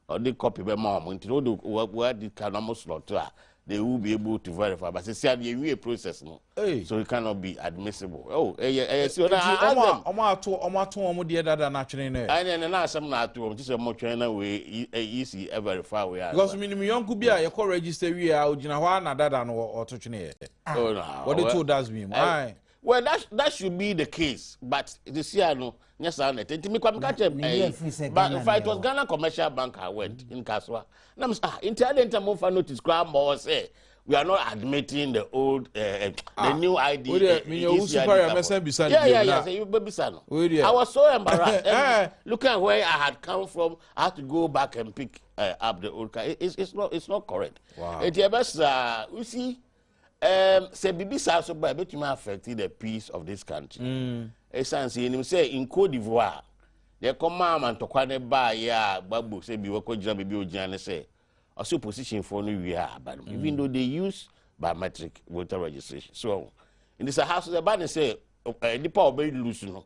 Ɔde copy bɛma wɔn nti no wode wa wadi ka na wɔn slot a they will be able to verify but sisi adi ewie process no Hey. so it cannot be admissible. Oh ɛyɛ ɛyɛ si ɔna Nti ask ɔmo a them. ɔmo ato ɔmo ato ɔmo deɛ dada na atwene no ɛ. Ɛne ɛne na asɛm na ato wɔn ti sɛ wɔn twɛn na wei yi ɛ yi si ɛ verify wei ansa. Because minim yɔnko bi a yɛkɔ register wie a ogyina hɔ a na dada no ɔ- ɔto twene ɛ. Oh na Wɔde ɔwɛ. too dustbin mu. Ɛ- Ae. Well that that should be the case but sisi a no nyɛ saa na ɛte nti mekɔ meka kyɛ ɛyi but nfa it was Ghana commercial bank I went in Kasoa na mo ah nti adi nti mo nfa notice koraa ma wɔ sɛ we are not admitting the old uh, uh, the ah, new ID. Uh, eh, yeah, yeah, yeah. So you baby son. I was so embarrassed. Eh. looking at where I had come from, I had to go back and pick uh, up the old car. It, it's, it's not it's not correct. Wow. It, yeah, best, uh, you see. Um, sɛ biribi saa so ba ɛbɛtumi affect the peace of this country ɛsiane mm. sɛ yɛnim sɛ in cote divoire deɛ ɛkɔmaa ma ntɔkwa ne baayɛ a gbagbo sɛ bi wɔkɔgyina baabi ɔgyina ne sɛ ɔsɛ oppositionfoɔ no wie a aba no mm. even though they use biometric voter registration so ɛho nti sɛ ha so sɛ ba ne sɛ eh, nipa a ɔbɛlusu no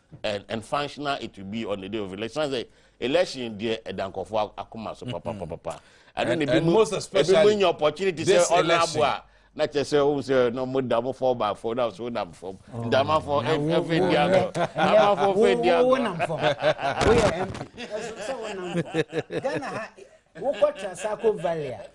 and and functional it will be on the day of election sɛ election deɛ ɛda nkɔfo akoma so papapapa ɛno na ebi mu ebi mu nya opportunity sɛ ɔno abo a na kyerɛ sɛ ɔmo sɛ na ɔmo da ɔmo fɔ ba fɔ na ɔso nam fam ndama fɔ ɛfɛ di agɔ ama fɔ fɛ di agɔ. Ghana ha wokɔ Transako Varia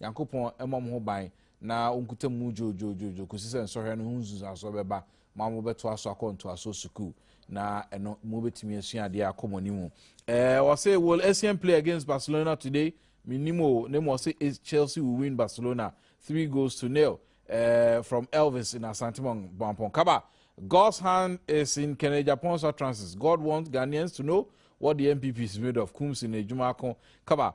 Nyankopɔn mmɔ mo ho ban na Ɔnkuta mu dwoodwoodwoodwoo kɔsi sɛ nsɔhwɛ no ho nsunsuansoɔ bɛba ma mobɛtoa so akɔ ntoasoɔ sukuu, na ɛno mobɛtumi asua adeɛ akɔ mo anim. Eh, wɔse will Essien play against Barcelona today? Mennim o, na mmom wɔse is Chelsea will win Barcelona three goals to nil. Eh, from Elvis in Asantemong, Boampong Kaba. God's hand is in Ken Agyapong's utterances. God wants Ghanaians to know what the NPP is made of. Kumsi na adwuma ako. Kaba.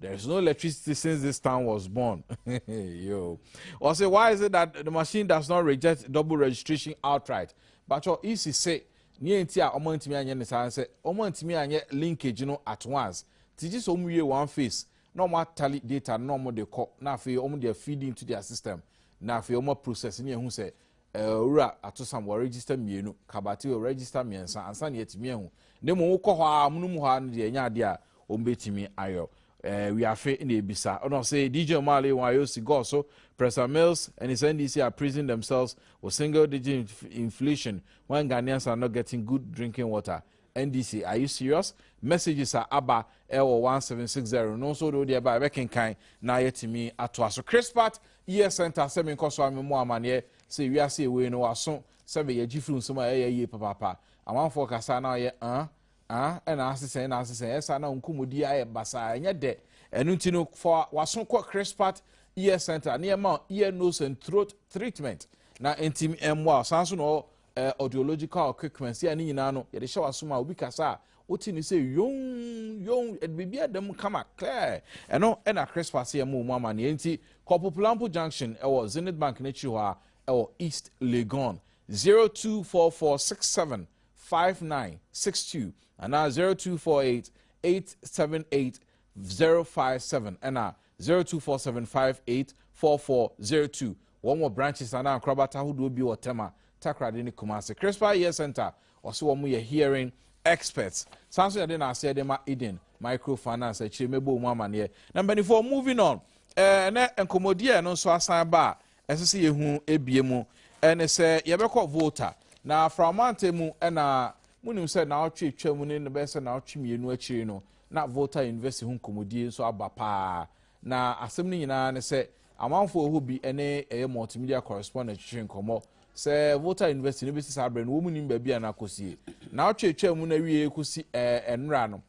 There is no electricity since this town was born. Yo. Or say, why is it that the machine does not reject double registration outright? But your easy say, near ntia omo ntimi anye ne saa say, omo ntimi anye linkage no at once. Ti just omo ye one face. Na omo tally data na omo de call. Na fe omo de feed into their system. Na fe omo process ni ehu say, Eh, Owura Atosam, wɔregister mmienu, Kabati wɔregister mmiɛnsa ansa na yɛatumi ahu. Na mmom wokɔ hɔ a, amonom hɔ a no deɛ ɛnyɛ adeɛ a wɔbɛtumi ayɔ. Eh, wiafe na ebisa. Ɔna ɔse, DJ Omale, wɔn ayɛ osi gɔɔ so, Pressa Mills and his NDC are praising themselves with single digit inflation when Ghanaians are not getting good drinking water. NDC are you serious? Messages a aba ɛwɔ one seven six zero no nso de wodeɛ ba ɛbɛkenkan na yɛtumi atoa so. Chris Pat Year Center sɛ menkɔ so a memmɔ amaneɛ sɛ wiase ewei no waso sɛ meyɛ gye firi nsɛm a ɛyɛ yie papaapa. Amanfoɔ kasa na ɔyɛ an an ɛna asesɛn na asesɛn ɛsa na nkɔmmɔdi ayɛ basaa ɛnyɛ dɛ ɛno nti no fa waso kɔ Chris Pat Year Center ne ɛma ear nose and throat treatment na ntim mmoa ɔsan so na ɔ eh, audiological equipment a ne nyinaa no yɛde hyɛ w'asom a obi kasa a wote ne sɛ yon yon ɛde biribi ada mu kama clear ɛno ɛna crispas yɛ mu mu amanneɛ nti kɔpo polampo junction ɛwɔ zenith bank n'akyiri hɔ a ɛwɔ east legon 0244675962 anaa 0248 878 057 ɛna Zero two four seven five eight four four zero two Wɔn wɔ branches anaa nkorabata ahodoɔ bi wɔ Tema, Takoradi ne Kumasi. Crispa Ear Centre ɔse wɔn yɛ hearing experts. Saa nso yɛde na aseɛ de ma Eden Microfinance akyire mɛbɔ wɔn amaneɛ. Na mpanimfoɔ moving on eh, ɛnɛ nkɔmmɔdi a ɛno nso asan ba a ɛsɛ sɛ yɛhu ebie mu ɛne sɛ yɛbɛkɔ Volta na Aframante mu ɛna monim sɛ naawɔtwe atwa mu ne no bɛyɛ sɛ naawɔtwe mmienu akyiri no Na Volta University ho nkɔmmɔdie nso aba pa ara. Na asɛm no nyinaa ne sɛ amanfoɔ ɛhɔ bi ne ɛyɛ multimedia correspondent twetwe nkɔmmɔ sɛ Volta University no bɛsi saa berɛ no wɔn mu nim baabi a no akɔsie. Naawɔtwe atwaa mu no awieɛ kɔsi ɛnora no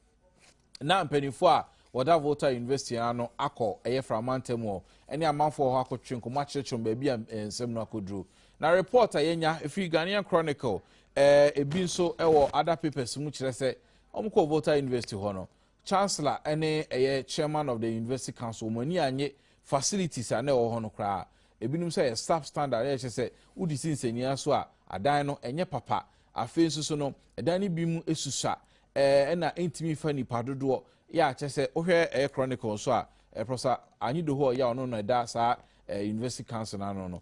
na mpanimfoɔ a wɔda Volta University ano akɔ ɛyɛ framantam hɔ ne amanfoɔ hɔ akɔtwe nkɔmmɔ akyerɛkyerɛ wɔn baabi a nsɛm no akɔduro. Na report a yɛnya ɛfiri Ghanaian Chronicle ɛɛ ebi nso ɛwɔ other papers mu kyerɛ sɛ Wɔn kɔɔ Volta University hɔ no, Chancellor ne ɛyɛ Chairman of the University Council wɔn ani annye facilities a na ɛwɔ hɔ no koraa. Ebinom sɛ ɛyɛ staff standard a ɛkyɛ sɛ wodi si nsɛnniaa so a adan no ɛnyɛ papa. Afei nso so no, ɛdan no bi mu susua ɛna ɛntumi fa nnipa dodoɔ yɛ a kyɛ sɛ wohwɛ ɛyɛ Chronicle nso a, Professor Anyi Dohoɔ yɛ a ɔno na ɛda saa University Council no ano no,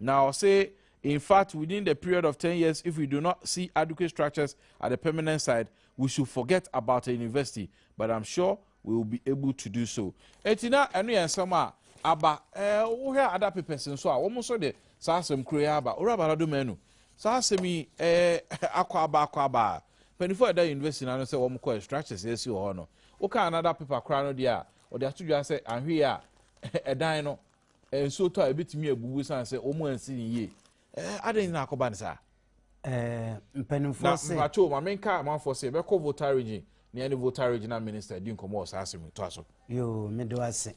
Na ɔse in fact within the period of ten years if we do not see adequate structures at the permanent site we should forget about a university but I'm sure we will be able to do so. Enti na ɛno yɛ nsɛm a aba. Eh, wohwɛ a ada papers nso a wɔn nso de saa asɛm koro yi aba. Owura Bala Domanu, saa asɛm yi eh, akɔ aba akɔ aba a mpanyinfoɔ a ɛda university no ano sɛ wɔn kɔ structures a ɛsi wɔ hɔ no woka another paper koraa no deɛ a wɔde ato dwa sɛ anhwee a ɛdan no Nsuo tɔ a, ɛbɛtumi abubu ɛsiane sɛ wɔn ansi no yie. Ɛɛ adɛn na akɔba no saa? Ɛɛ mpanimfoɔ se. Na mpakyɛw ma menka amanfoɔ se ɛbɛkɔ Volta region nea ne Volta regional minister di nkɔmmɔ wɔ saa asɛm yi toa so. Yoo mede wo ase.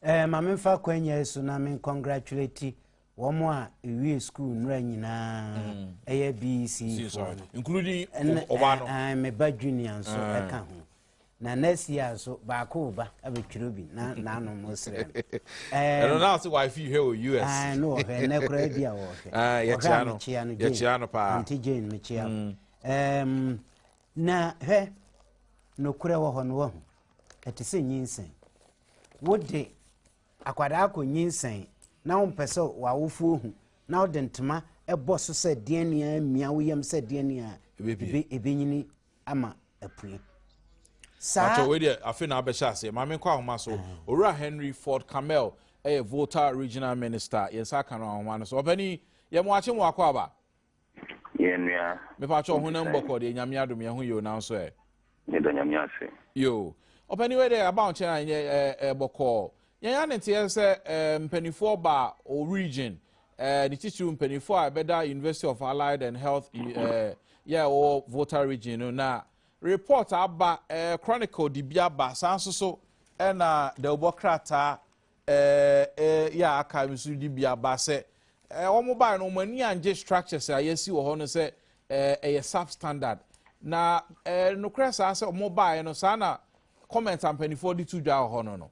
Ɛɛ ma memfa kwanya yi so na men congratulate wɔn a ɛwie sukuu nnora nyinaa mm. ɛyɛ BEC foɔ no. Including ɔbaa no. Ɛɛ me ba junior nso ɛka ho. na nɛɛsi a nso baako ba abɛtwerɛ bi na n'ano mo srɛ ɛno na ɔsɛ wife yi hwɛ wɔ us ah, no ɔhwɛ nnɛ koraa bi a wɔhwɛ ah, ɔhwɛ a mekyea no yɛkyea no paa ante jane mekyea mm. na hwɛ nokorɛ wɔ hɔ no wahu ɛte sɛ nyinsɛn wode akwadaa akɔ nyinsɛn na wompɛ sɛ w'awofoɔ hu na wode ntoma ɛbɔ so sɛ deɛ nea mmia wo yam sɛ deɛ nea ɛbɛnyini ama apue. Saa. Pakyɛ wei deɛ afe na abɛhyɛ aseɛ maame nkɔ ahoma so mm. owura Henry Ford Camel ɛyɛ Volta Regional Minister yɛn nsa aka no ahoma no so ɔpɛni yɛ mo akye mo akɔ aba. yɛn nua. mepakyɛ ɔho na mbɔkɔ deɛ nyame adom yɛn ho yɛ o nanso ɛ. yɛda nyame ase. yoo ɔpɛni wei deɛ aba nkyɛn a ɛnyɛ ɛɛ bɔkɔɔ. Yɛn a ne teɛ sɛ eh, mpaninfoɔ ba o region eh, ne titiriw mpaninfoɔ a ɛbɛda University of Allied and Health eh, yɛ ɛwɔ Volta region no na report aba eh, chronicle de bi aba saa nso so ɛna dawubɔ krataa eh, eh, yɛ aka nso de bi aba sɛ eh, wɔn bae no wɔn ani angye structures a yɛasi wɔ hɔ no sɛ eh, ɛyɛ substandard na eh, nokorɛ saa sɛ wɔn bae no saa na comment a mpaninfoɔ de to dwa wɔ hɔ no no.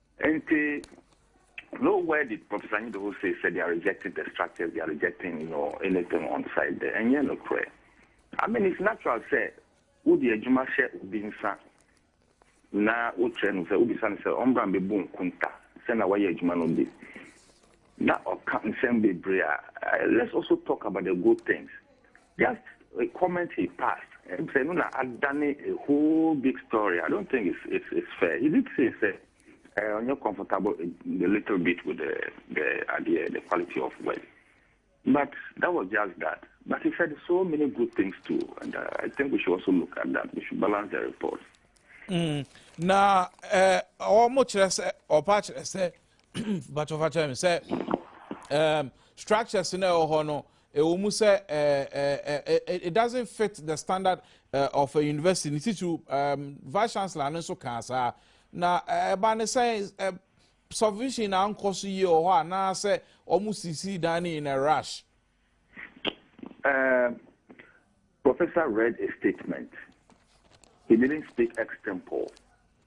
Ntsi no where did Professor Anyidoho say sɛ they are rejecting the structures they are rejecting you know anything on site dɛ nnyɛ nokorɛ I mean it's natural sɛ wo de adwuma hyɛ obi nsa na wo kyerɛ no sɛ wo bisa no sɛ ɔmbra mbebu nkunta sɛna wayɛ adwuma no de. Na ɔka nsɛm bebree a let's also talk about the good things just a comment he passed sɛ ɛno na adane a whole big story I don't think it's, it's, it's fair he did say sɛ uh, ɔnyɛ comfortable a little bit with the, the idea the quality of work but that was just that but he said so many good things too and uh, I think we should also look at that we should balance the report. Mm. na ɔmo eh, kyerɛ sɛ ɔpa kyerɛ sɛ mpatsɔ fa kyerɛ me sɛ um, structures na ɛwɔ hɔ no ɛwɔ mu sɛ it doesn't fit the standard uh, of a university ne titiriw um, vice chancellor no nso kaa saa na ɛba ne sɛ submission na ankɔ so yie wɔ hɔ anaasɛ wɔn sisi dan no in a rush. Um, professor read a statement he didn't speak extempore.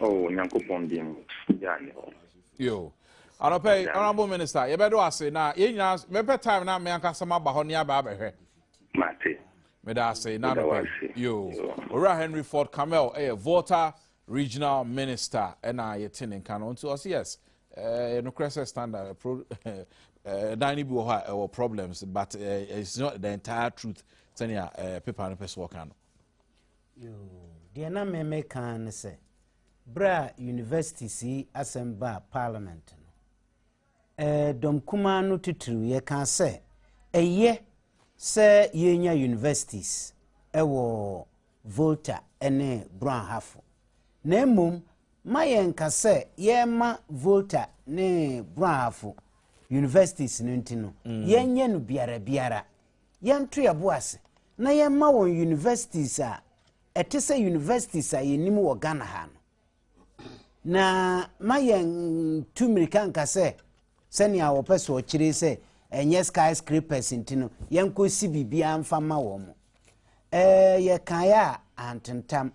Oh, Nyankopɔn din mu, gyaa ne hɔ. Yo. Anɔpɛ yi, Honorable Minister, yɛbɛde wo ase na yɛn nyinaa mɛpɛ time na me ankasa maba hɔ ne aba abɛhwɛ. Mate. Meda ase na anɔpɛ yi. Yo. Owura Henry Ford Camel ɛyɛ eh, Volta Regional Minister ɛna eh, yɛte ne nka no nti ɔse yes. Eh, eh nokorɛ sɛ standard eh, pro eh, dan no bi wɔ hɔ a ɛwɔ problems but eh, it's not the entire truth sɛnea eh, paper no pɛ sɛ ɔka no. Yoo, deɛ na me meka ara ne sɛ, berɛ a universities yi asɛm baa parliament no, eh, dɔm kumaa no titiriw yɛkaa sɛ ɛyɛ sɛ yɛnya universities wɔ Volta ne Brɔnhafo. Na mmom ma yɛnka sɛ yɛma Volta ne Brɔnhafo universities no nti no, mm. yɛnyɛ no biara biara. yɛnto yɛn bo ase na yɛmma wɔn universities a ɛte sɛ universities a yɛnim wɔ Ghana ha no. Na ma yɛntu mmirika nka sɛ sɛnea wɔpɛ so ɔkyerɛ sɛ ɛnyɛ skyscrapers nti no yɛnkɔsi biribiara mfa ma wɔn. Ɛɛ yɛkaeɛ a antentam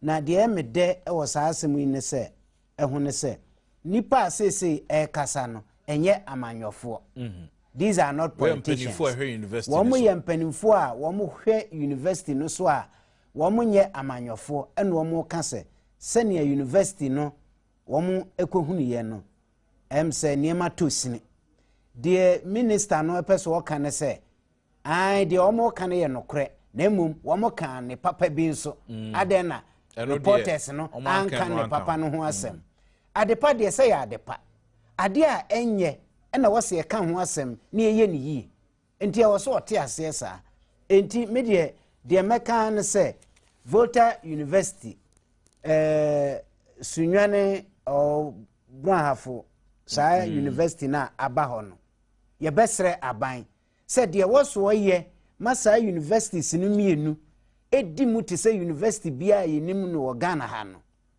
Na deɛ ɛyɛ me dɛ wɔ saa asɛm yi ne sɛ, ho ne sɛ, nnipa a seesei ɛrekasa no, ɛnyɛ amanyɔfoɔ. These are not politicians. Wɔn yɛ mpanimfoɔ a wɔn hwɛ University no so a wɔn nyɛ amanyɔfoɔ ɛna wɔn reka sɛ, sɛnea University no wɔn ɛkɔhunuiɛ no, ɛm sɛ nneɛma tɔ sini. Deɛ Minister no ɛpɛ sɛ ɔka ne sɛ, Ae, deɛ wɔka no yɛ nokorɛ, na mmom wɔka ne papa bi nso. Mm. Adɛn na reporters no anka ne papa no ho mm. asɛm? Adepa deɛ sɛ yɛ adepa, adeɛ a ɛnyɛ ɛna wɔsɛ ɛka ho asɛm na ɛyɛ ne yie. Nti ɛwɔ so ɔte aseɛ saa. Nti me deɛ deɛ mɛka no sɛ Volta University eh, Sunyane oh, Brahafo saa mm. university no a aba hɔ no yɛbɛsrɛ aban sɛ deɛ ɛwɔ so ɔyɛ ma saa universities no mmienu di mu te sɛ university biara a yɛnim no wɔ Ghana ha no,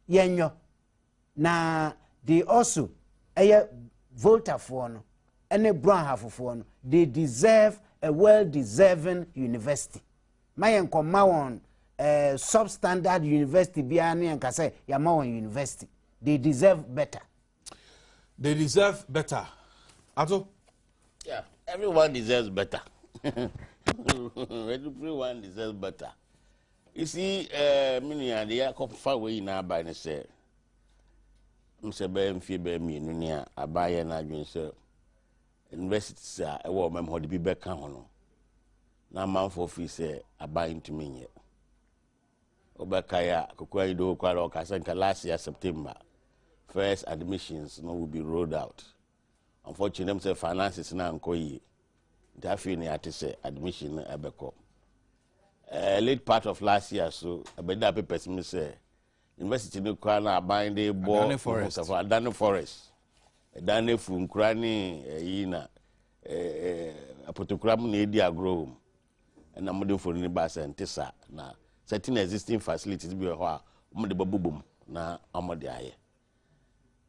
yɛnyɔ. Na they also ɛyɛ Voltafoɔ no ne Broahafofoɔ no, they deserve a well-deserving university. Ma yɛn kɔma wɔn eh, substandard university biara ne yɛn ka sɛ yɛama wɔn university. They deserve better. they deserve better ato. yeah everyone deserves better everyone deserves better you see eh, me nua de akɔfa wei nyinaa aba ne sɛ m sɛ bɛyɛ mfie bɛyɛ mmienu ni a abayɛ no adwene sɛ universities a ɛwɔ ɔmam hɔ de bi bɛka ho no na amanfoɔ firi sɛ aban ntumi nyɛ Wobɛkae a, Kokoa Ido Hokwara ɔkaa sɛ nka last year September first admissions no will be rolled out. Unfortunately, na mu sɛ finances no ankɔ yie. Nti afei na yɛate sɛ admission no ɛbɛkɔ. Uh, late part of last year so, ɛbɛda papers mu sɛ university no kura na aban de bɔ adane forest adane forest ɛdan no afu nkura ne ɛyi na apotokura mu na ɛdi agorɔ wɔ mu Ɛna mode mfoni no bae sɛ ɛnte saa. Na certain existing facilities bi wɔ hɔ a wɔde bɛbobɔ mu na wɔde ayɛ.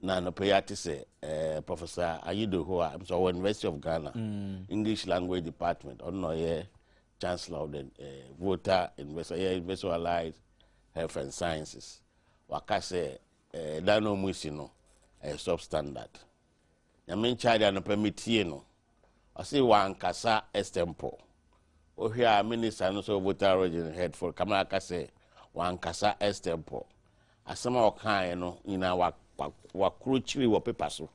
Na anɔpa yi ate sɛ eh, Professor Ayidoho a sɛ ɔwɔ University of Ghana mm. English Language Department ɔno na ɔyɛ Chancellor of the eh, Volta University ɔyɛ University of Allied Health and Sciences waka sɛ eh, dan na wɔn si no ɛyɛ substandard Nyame nkyɛade anɔpa metie no ɔse wankasa extempore wohwɛ a minister no so voter region head for kama aka sɛ wankasa extempore asɛm a ɔkaeɛ no nyinaa wakoro kyiri wɔ pepa so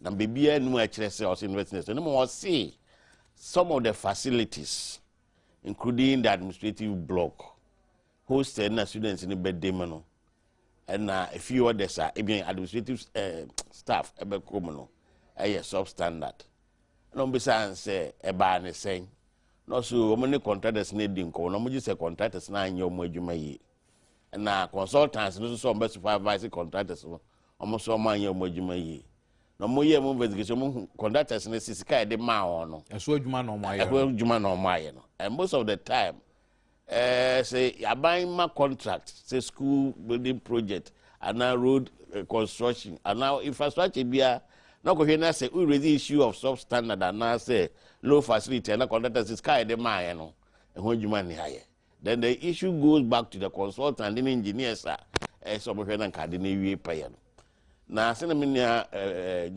na biribiara nim a ɛkyerɛ sɛ ɔse university no ma ɔse some of the facilities including the administrative block Hostel no na students no bɛ dem no na fee orders a ebi administrative eh, staff ɛbɛ kɔ mu no ɛyɛ substandard na wɔn bisa ansɛ ɛbaa ne sɛn na ɔso wɔn ne contractors no edi nkɔmɔ na wɔn gye sɛ contractors no anyɛ wɔn adwuma yie na consultants no nso wɔn bɛ supervise contractors no wɔn nso wɔn anyɛ wɔn adwuma yie na wɔn yɛ wɔn investigation wɔn hu contractors no sisi kaa yɛde maa wɔn no ɛso adwuma na wɔn ayɛ no ɛso adwuma na wɔn ayɛ no and most of the time Eh, sɛ aban ma contract sɛ school building project anaa road eh, construction anaa infrastructure biara na kɔhwɛ na sɛ wo raise issue of sub standard anaa sɛ low facility anaa contractor sɛ sika a yɛde maayɛ no ɛho adwuma nni ayɛ then the issue goes back to the consultant ne engineers a ɛsɛ eh, wɔhwɛ na nka ade no awie pɛyɛ no na sɛna me nua eh,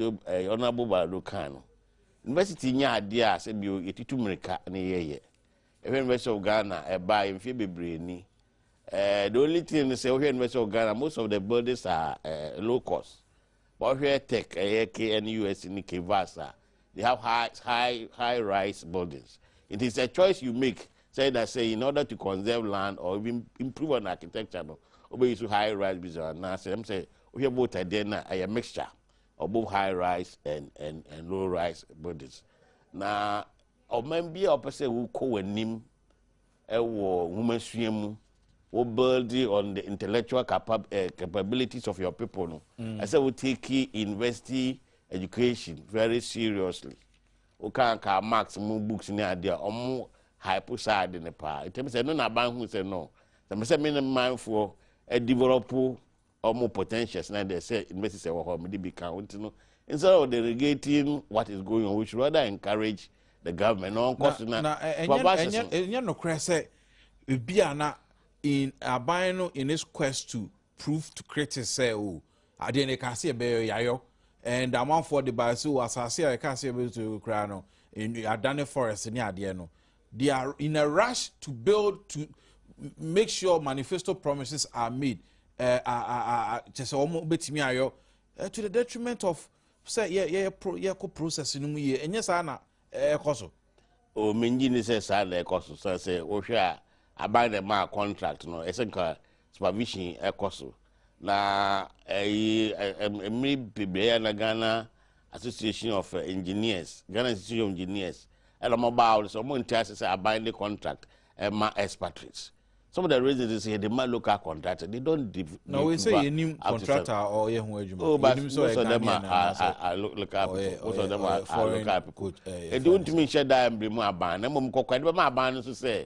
ɔnabo baado kaa no university nyɛ adeɛ a sɛ bio yɛtutu mmirika ne yɛyɛ Yɛhwɛ University of Ghana ɛbaeɛ mfeɛ bebree ni. Eh, the only thing ne sɛ wohwɛ University of Ghana most of the buildings are eh, low cost. Wohwɛ tech ɛyɛ KNUS ne KVAS a they have high high high rise buildings. It is a choice you make say that say in order to conserve land or even improve on architecture no wobɛyi so high rise bi sɛ anaasɛ ɛm sɛ wohwɛ boat adeɛ no a ɛyɛ mixture of both high rise and, and, and low rise buildings. Now Ɔman biara a wɔpɛ sɛ wokɔ wɔn anim wɔ nwomasua mu, wo build on the intellectual capa eh, capabilities of your people no, mm. ɛsɛ wo take university education very seriously. Woka ka marks mu books ne adeɛ a wɔn hype saa ade no paa. Ɛtɛm sɛ ɛno na aban hu sɛ no, sɛ mesɛ me ne manfoɔ develop wɔn potentials na deɛ sɛ universities ɛwɔ hɔ mede bi ka ho nti no instead of delegating what is going on we should rather encourage the government na ɔnkɔ so na na ɛ- ɛnyɛ babashes ɛnyɛ no ɛnyɛ nokorɛ sɛ ebi a na in aban no in its quest to prove to critics sɛ o adeɛ no ɛka sɛ ɛbɛyɛ yayɔ and amanfoɔ de ba sɛ o asase a ɛka sɛ ɛbɛyɛ koraa no ɛnu- adane forest ne adeɛ no They are in a rush to build to make sure manifesto promises are made. Uh, uh, uh, uh, kyɛ sɛ wɔn bɛtumi ayɔ uh, to the detriment of sɛ yɛ yɛ pro yɛ kɔ process no mu yie ɛnyɛ saa na ɛkɔ eh, so. o oh, mengye ni sɛ saa na ɛkɔ so sɛ sɛ wohwɛ a aban na ɛmaa contract no ɛsɛ nka supervision ɛkɔ so na ɛyi mmiri bebree a na ghana association of engineers ghana institute of engineers ɛna wɔn baa wɔn sɛ wɔn nti ase sɛ aban de contract ɛma expatriates some of the reasons is yɛ de ma local contractor they don't de na wɔyɛ sɛ yɛ nim contractor a ɔyɛ ho adwuma oh but most of them are are local people most of them are local people ɛdi wɔn ntumi nhyɛ daa mbiri mu aban na mmom kɔkɔ ɛdi bɛ ma aban no so sɛ.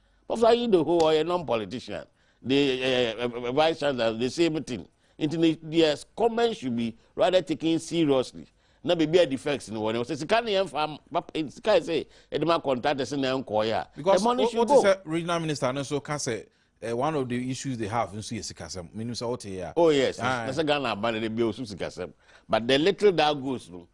Bɔfra yi de ho ɔyɛ non politician de ɛɛ vice chancellor the same thing nti ne deɛ comment should be rather taken seriously na baabi a defects no wɔ no sɛ sika no yɛn fa papa sika yɛ sɛ ɛde ma contractors na ɛnkɔɔyɛ a because ɛmɔ no should go. wote sɛ regional minister no nso ka sɛ eh, one of the issues they have nso yɛ sikasɛm menim sɛ wote yɛ a. oh yes na sɛ ghana aba no de bi osu sikasɛm but the little that goes no.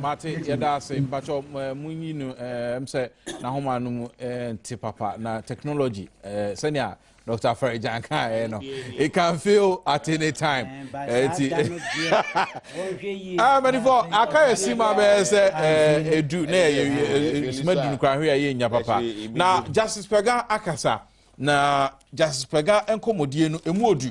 Mate yɛda ase mpakyɛ munyi no ɛm sɛ n'ahoma no mu nte papa na technology sɛnea Dr. Afarijan kan ɛ no it can feel at any time ɛti ah many for aka yɛ si ma bɛyɛ sɛ edu na yɛ sima dunu kura hwɛ yɛ nya papa na Justice Pega akasa na Justice Pega nkɔmɔdie no emu odu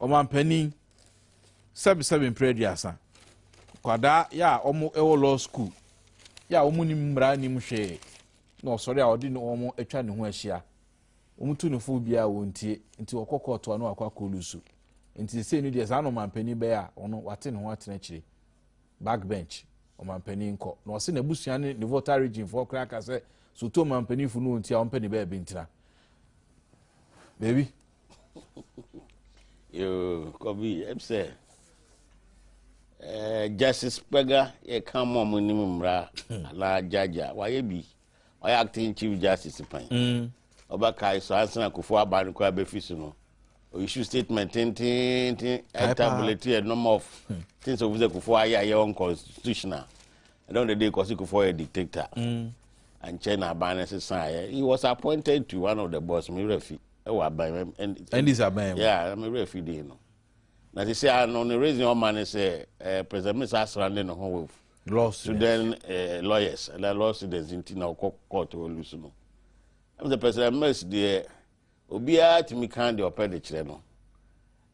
Ɔmanpanin, sɛbesɛbe mprɛ aduasa. Nkwadaa yɛ a wɔn wɔ law school yɛ a wɔn nim mmara nim hwee na ɔsɔre a ɔde ne wɔn atwa ne ho ahyia. Wɔn tu no fo biara wɔn tie nti wɔkɔ kɔɔto a na wakɔ akɔ lusu. Nti sesei no deɛ saa na ɔmanpanin bɛyɛ a ɔno wate ne ho atena akyire. Backbench ɔmanpanin kɔ na ɔse n'abusua ne ne voter region foɔ koraa ka sɛ so to ɔmanpanin fo no wɔn ti a wɔmpɛ ne baabi ntena. Baabi. Yoo, Kobi, ɛm sɛ ɛɛ eh, Justice Kpɛga yɛ ka mu ɔmo nim mmara anaa gyagya wayɛ bi wayɛ acting chief justice pan mm. ɔbɛkae so ansa na Akufo aba no koraa bɛfi so no ɔyisu statement tententen ɛtabulate a number of hmm. things of sɛ Akufo ayɛ ayɛ unconstitutional ɛdɔn dɛdɛ kɔsi Akufo yɛ dictator mm. ankyɛ na aban no sesaeɛ he was appointed to one of the boss mi wura fi. ɛwɔ aban mu ndc aban mu yeah na mi rɛ fi din no na ti sɛ ano ne reason ɔma ne sɛ ɛɛ eh, president misa asra ne ne ho wɔ law student ɛɛ eh, lawyers ɛna law students nti na ɔkɔ court wɔ lu so no ɛmu sɛ president mers deɛ obiara tumi kan deɛ ɔpɛ de kyerɛ no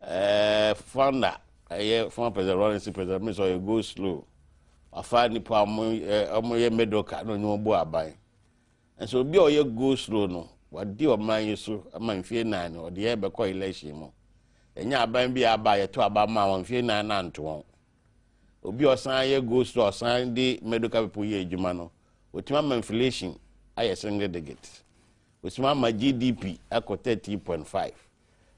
ɛɛ eh, founder ɛyɛ former president lawrence president mers ɔyɛ go slow afa nipa ɔmo ɛɛ ɔmo yɛ middle car na ɔnyɛ ɔmo bu aban. Nanso obi a ɔyɛ go slow no wadi ɔman yi so ma mfie nan no ɔde yɛ bɛkɔ election mu. Yɛnyɛ aban bi a aba a yɛto aba maa wɔn mfie nan no anto wɔn. Obi a ɔsan yɛ go slow a ɔsan de medical people yɛ adwuma no otumi ama inflation ayɛ single digit. Otumi ama GDP akɔ 13.5.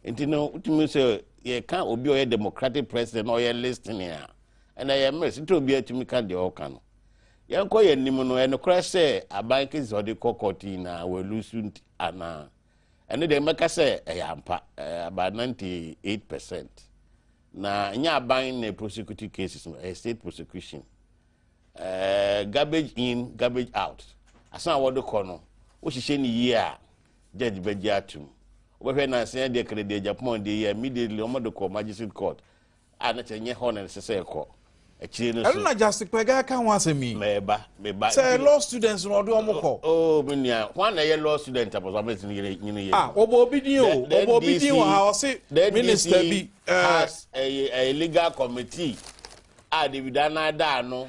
Nti no, wotumi sɛ yɛka obi a ɔyɛ democratic president na ɔyɛ listening a, ɛnna yɛ mmerɛ sɛ obiara tumi ka deɛ ɔka no. Yɛnkɔ yɛn anim no, ɛnokorɛ sɛ aban kesi sɛ ɔde kɔ kɔɔte nyinaa wɔalusu nti anaa? Ɛno deɛ mɛka sɛ ɛyɛ ampa, ɛyɛ about 98 percent. Na ɛnyɛ aban na prosecute cases no, ɛyɛ state prosecution. Ɛɛ garbage in, garbage out. Asan a wɔde kɔ no, wohyehyɛ no yie a, judge bɛgye atom. Wobɛhwɛ nansa yi deɛ kɛdɛ deɛ Japan deɛ yi a immediately wɔn de kɔ magistrate court a na kyɛ nyɛ hɔ na ɛsɛ sɛ ɛkɔ. Akyire no so. Ɛno na Justice Kpɛga ɛka ho asɛm yi. Mɛɛba, mɛba. Sɛ law students na ɔde wɔn kɔ. Oh, me nua, wɔn na ɛyɛ law student apɔsɔ amɛ ti nyere nyere yɛ. Ah, ɔbɔ obi din o, ɔbɔ obi din wɔ ha, ɔsi minister bi. The NDC has a, a legal committee a David Anada ano.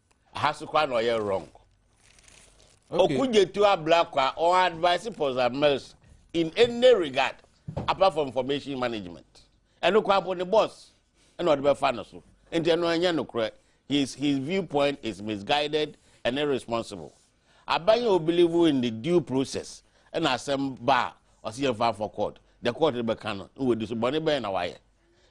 aha so koraa na ɔyɛ wrong okugyetu abla kwa ɔn advice pɔsa mers in any regard apart from information management ɛno kwa mpo ne boss ɛna ɔde bɛfa no so nti ɛno ɛnyɛ nokorɛ his his viewpoint is misguided and irresponsible Aban yi a ɔbelieve in the due process na asɛm ba a ɔse yɛmfa mfɔ court, deɛ court no bɛka no na wadi so. Bɔne bɛn na wayɛ?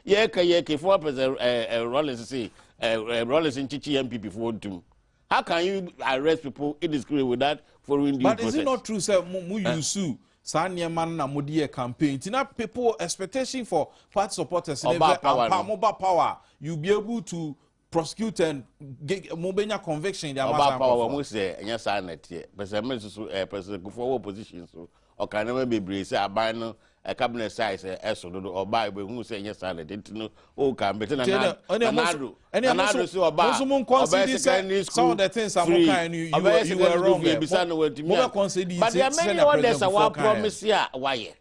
Yɛka yɛka former president eh, eh, Rawlings se eh, eh, Rawlings nkyekye NPP foɔ ntum. How can you arrest people indiscriminately without following due But process? But is it not true sɛ mo, mo eh? use eh? saa nneɛma no na mo de yɛ campaign ti na people expectation for party supporters ne bɛ ampa mo ba power you be able to prosecutor and gig mo bɛ nya conviction de ama saa nkɔfɔ. ɔba pa wɔn mu sɛ ɛnyɛ saa na ɛteɛ pɛsɛ mi nso so ɛɛ pɛsɛ kufuɔ wɔ opposition so ɔka nneɛma bebree sɛ aban no ɛ cabinet size ɛ ɛso dodo ɔba ebe hu sɛ ɛnyɛ saa na ɛteɛ nti no o ka mbete na na na ado na na ado so ɔba ɔbɛyɛ secondary school free ɔbɛyɛ secondary school free bisa na wɔntumi a but yɛ mɛni ɔdɛ sɛ wa promise a wayɛ.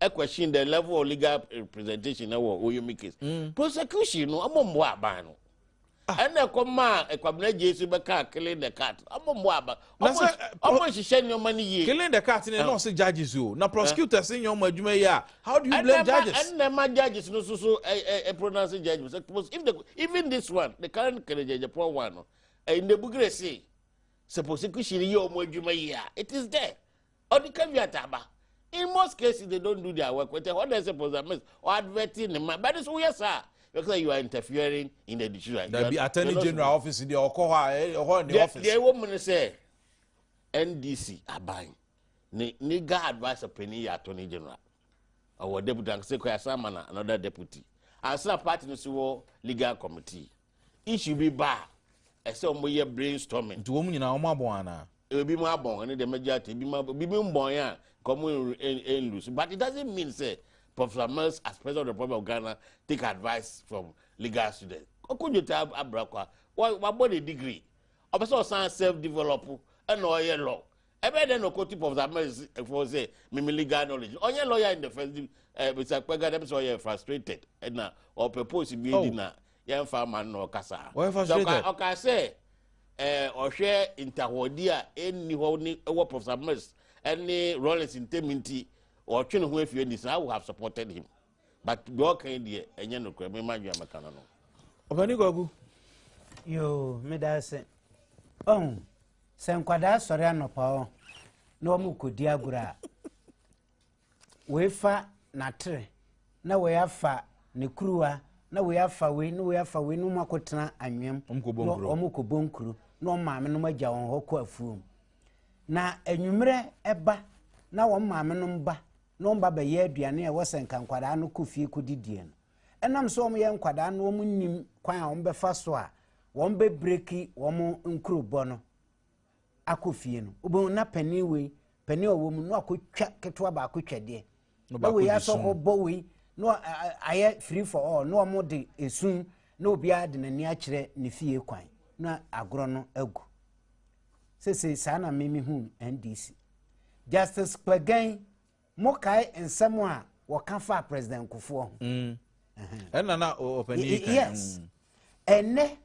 I question the level of legal representation na wɔ Oyomi case. Mm. Prosecution no ɔmo mmoa aban no. Ɛna ah. ɛkɔ maa Kwabena Gyesi bɛka killing the cat. Ɔmo mmoa aban. Ɔmo nhyehyɛ nneɛma no yie. Killing the cat ne na ɔsɛ judges o. Na prosecutors nyɛ ɔmo adwuma yi a. How do you blame judges? Ɛna ɛma judges no soso ɛ ɛ pronounce judgment. If the even this one the current kelejeje poor one no. Ɛnna ebugire se. Sɛ prosecution yɛ ɔmo adwuma yi a it is there. Ɔde ka wi ataaba. In most cases they don't do their work with ɛhɔ na ɛsɛ pɔsɛ miss ɔ advert ne ma bɛde so woyɛ saa yɛ kasa you are interfering in the decision. Dabi attorney general office deɛ ɔkɔ hɔ a ɛhɔ ne office. Deɛ ɛwɔ mu ne sɛ NDC aban ne legal adviser panyin yɛ attorney general ɔwɔ deputy ankasa kɔ asan ma na another deputy ansa party no si wɔ legal committee. issue bi ba a, ɛsɛ wɔn yɛ brain storming. Nti wɔn nyinaa wɔn abɔn anaa? Ebi mu abɔn ɛne deɛ mɛgye ate ebi mu abɔn ebi mu mbɔn yɛ a nka wɔn nlusu but it doesn't mean sɛ Professor Mills as president of the Republic of Ghana take advice from legal students. Okojote Abrakwa wabɔ ne degree ɔpɛ sɛ ɔsan self develop ɛna ɔyɛ law Ɛbɛyɛ dɛn na ɔkɔtu Professor Ahmed fo sɛ mimi legal knowledge no? Ɔnyɛ lawyer in the first di eh, Mr. Kpɛga dɛm sɛ ɔyɛ frustrated na ɔpɛ post bi adi oh. na yɛmfa ma no na ɔkasa. Ɔyɛ frustrated. Ɔka sɛ eh, ɔhwɛ ntahɔdi a ɛnni hɔ ne ɛwɔ Professor Ahmed ne Rawlings ntam nti ɔtwe ne ho afie ni so I would have supported him. but deɛ ɔka yi deɛ ɛnyɛ nokorɛ me ma adwene mɛka no no ɔpani kwaku yoo meda ase ɔhu sɛ nkwadaa sɔre anɔpa ɔ na wɔn kɔdi agorɔ a wei fa n'atere na wei afa ne kuruwa na wei afa wei na wei afa wei na wɔn akɔtena anwea mu Wɔn kɔ bɔ na nkuro. wɔn kɔbɔ nkuro na wɔn maame nom agya wɔn hɔ kɔ afuom na anwummerɛ ɛba na wɔn maame nom ba no mma bɛyɛ aduane a ɛwɔ sɛ nka nkwadaa no kɔ fie kɔdidie no. Ɛnam sɛ wɔyɛ nkwadaa no wɔn nnim kwan a wɔbɛfa so a wɔn bɛbreki wɔn nkurobɔ no akɔ fie no. Wobɛhu na panin wei, panin a ɔwɔ mu no akɔtwa ketewa baako twɛdeɛ. Na wei asɔ hɔ bɔ wei na ayɛ free for all na wɔn de esun na obiara de n'ani akyerɛ ne fie kwan na agorɔ no agu. sesei saa na me mehu ndc justice kpɛgɛn mokae nsɛm a wɔka faa president kofoɔ ho mm. ɛna na ɔpani ka yes mm. ɛnɛ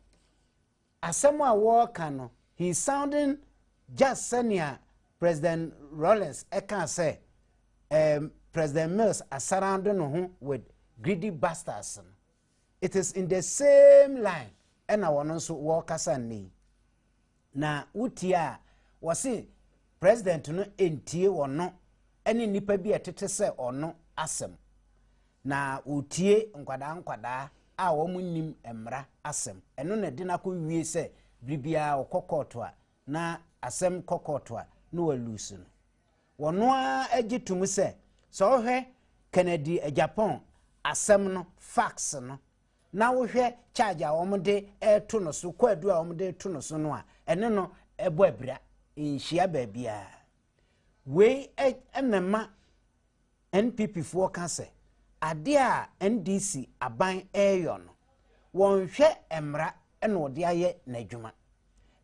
asɛm a wɔreka no he sounding just sɛnea president rollins ɛka sɛ um, president mills asarando no ho with greedy bastards no it is in the same line ɛna wɔn nso wɔrekasa nnɛ yi na wotie a wɔse president no ntie wɔno ne nnipa bi a ɛtete sɛ ɔno asɛm na wɔtie nkwadaa nkwadaa a wɔn nnim mmara asɛm ɛno na ɛde no akɔ wie sɛ biribiara ɔkɔ kɔɔto a na asɛm kɔ kɔɔto a na wɔlusu no Wɔn ara gye tom sɛ, sɛ wohwɛ Kennedy Agyapong asɛm no, fax no, na wohwɛ charge a wɔde reto no so, kwaadu a wɔde reto no so no a, ɛne no bɔ abira. Nhyia baabiara. Wei na ɛma NPPfoɔ ka sɛ, adeɛ a NDC aban reyɔ no, wɔnhwɛ mmara na wɔde ayɛ n'adwuma.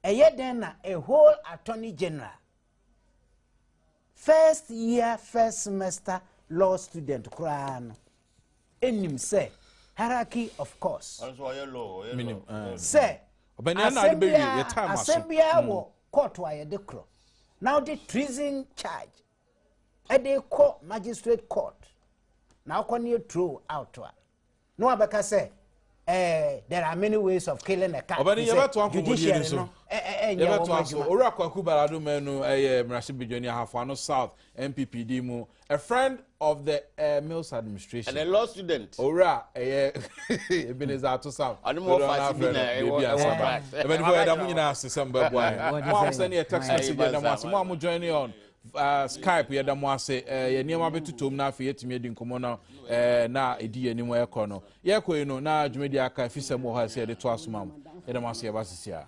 Ɛyɛ dɛn na a whole attorney general First year first semester law student koraa no nim sɛ hierarchy of course. Sɛ asɛm biara asɛm biara wɔ kɔɔto a yɛde korɔ na wode treason charge ɛde kɔ magistrate court na wokɔ ne throw out a na wabɛka sɛ eh, there are many ways of killing a cat ɔbɛne yɛbɛto akɔmɔdie no so yɛbɛto aso owura kwaku balado manu ɛyɛ mmarahyɛ badwani ahafoano south nppd mu a friend of the uh, mills administration and a law student owura ɛyɛ ebeneza ato south ɔne mo ɔfa si bi na ɛwɔ ɛwɔ class ɛbɛni fɔ ɛda mo nyinaa ase sɛ mo bɛ bɔ ayɛ mo a mo sɛ ne yɛ text message ɛda mo ase mo a mo join on Uh, skype yɛda mo ase uh, yɛ nneɛma bɛtotom na afei yɛtumi adi nkɔmmɔ no uh, na ɛdi yɛ anim ɛkɔ no yɛkɔ yi no na dwumadi aka afisɛm wɔ hɔ a ɛsɛ yɛde to asoma m yɛda mo ase yɛba sisi a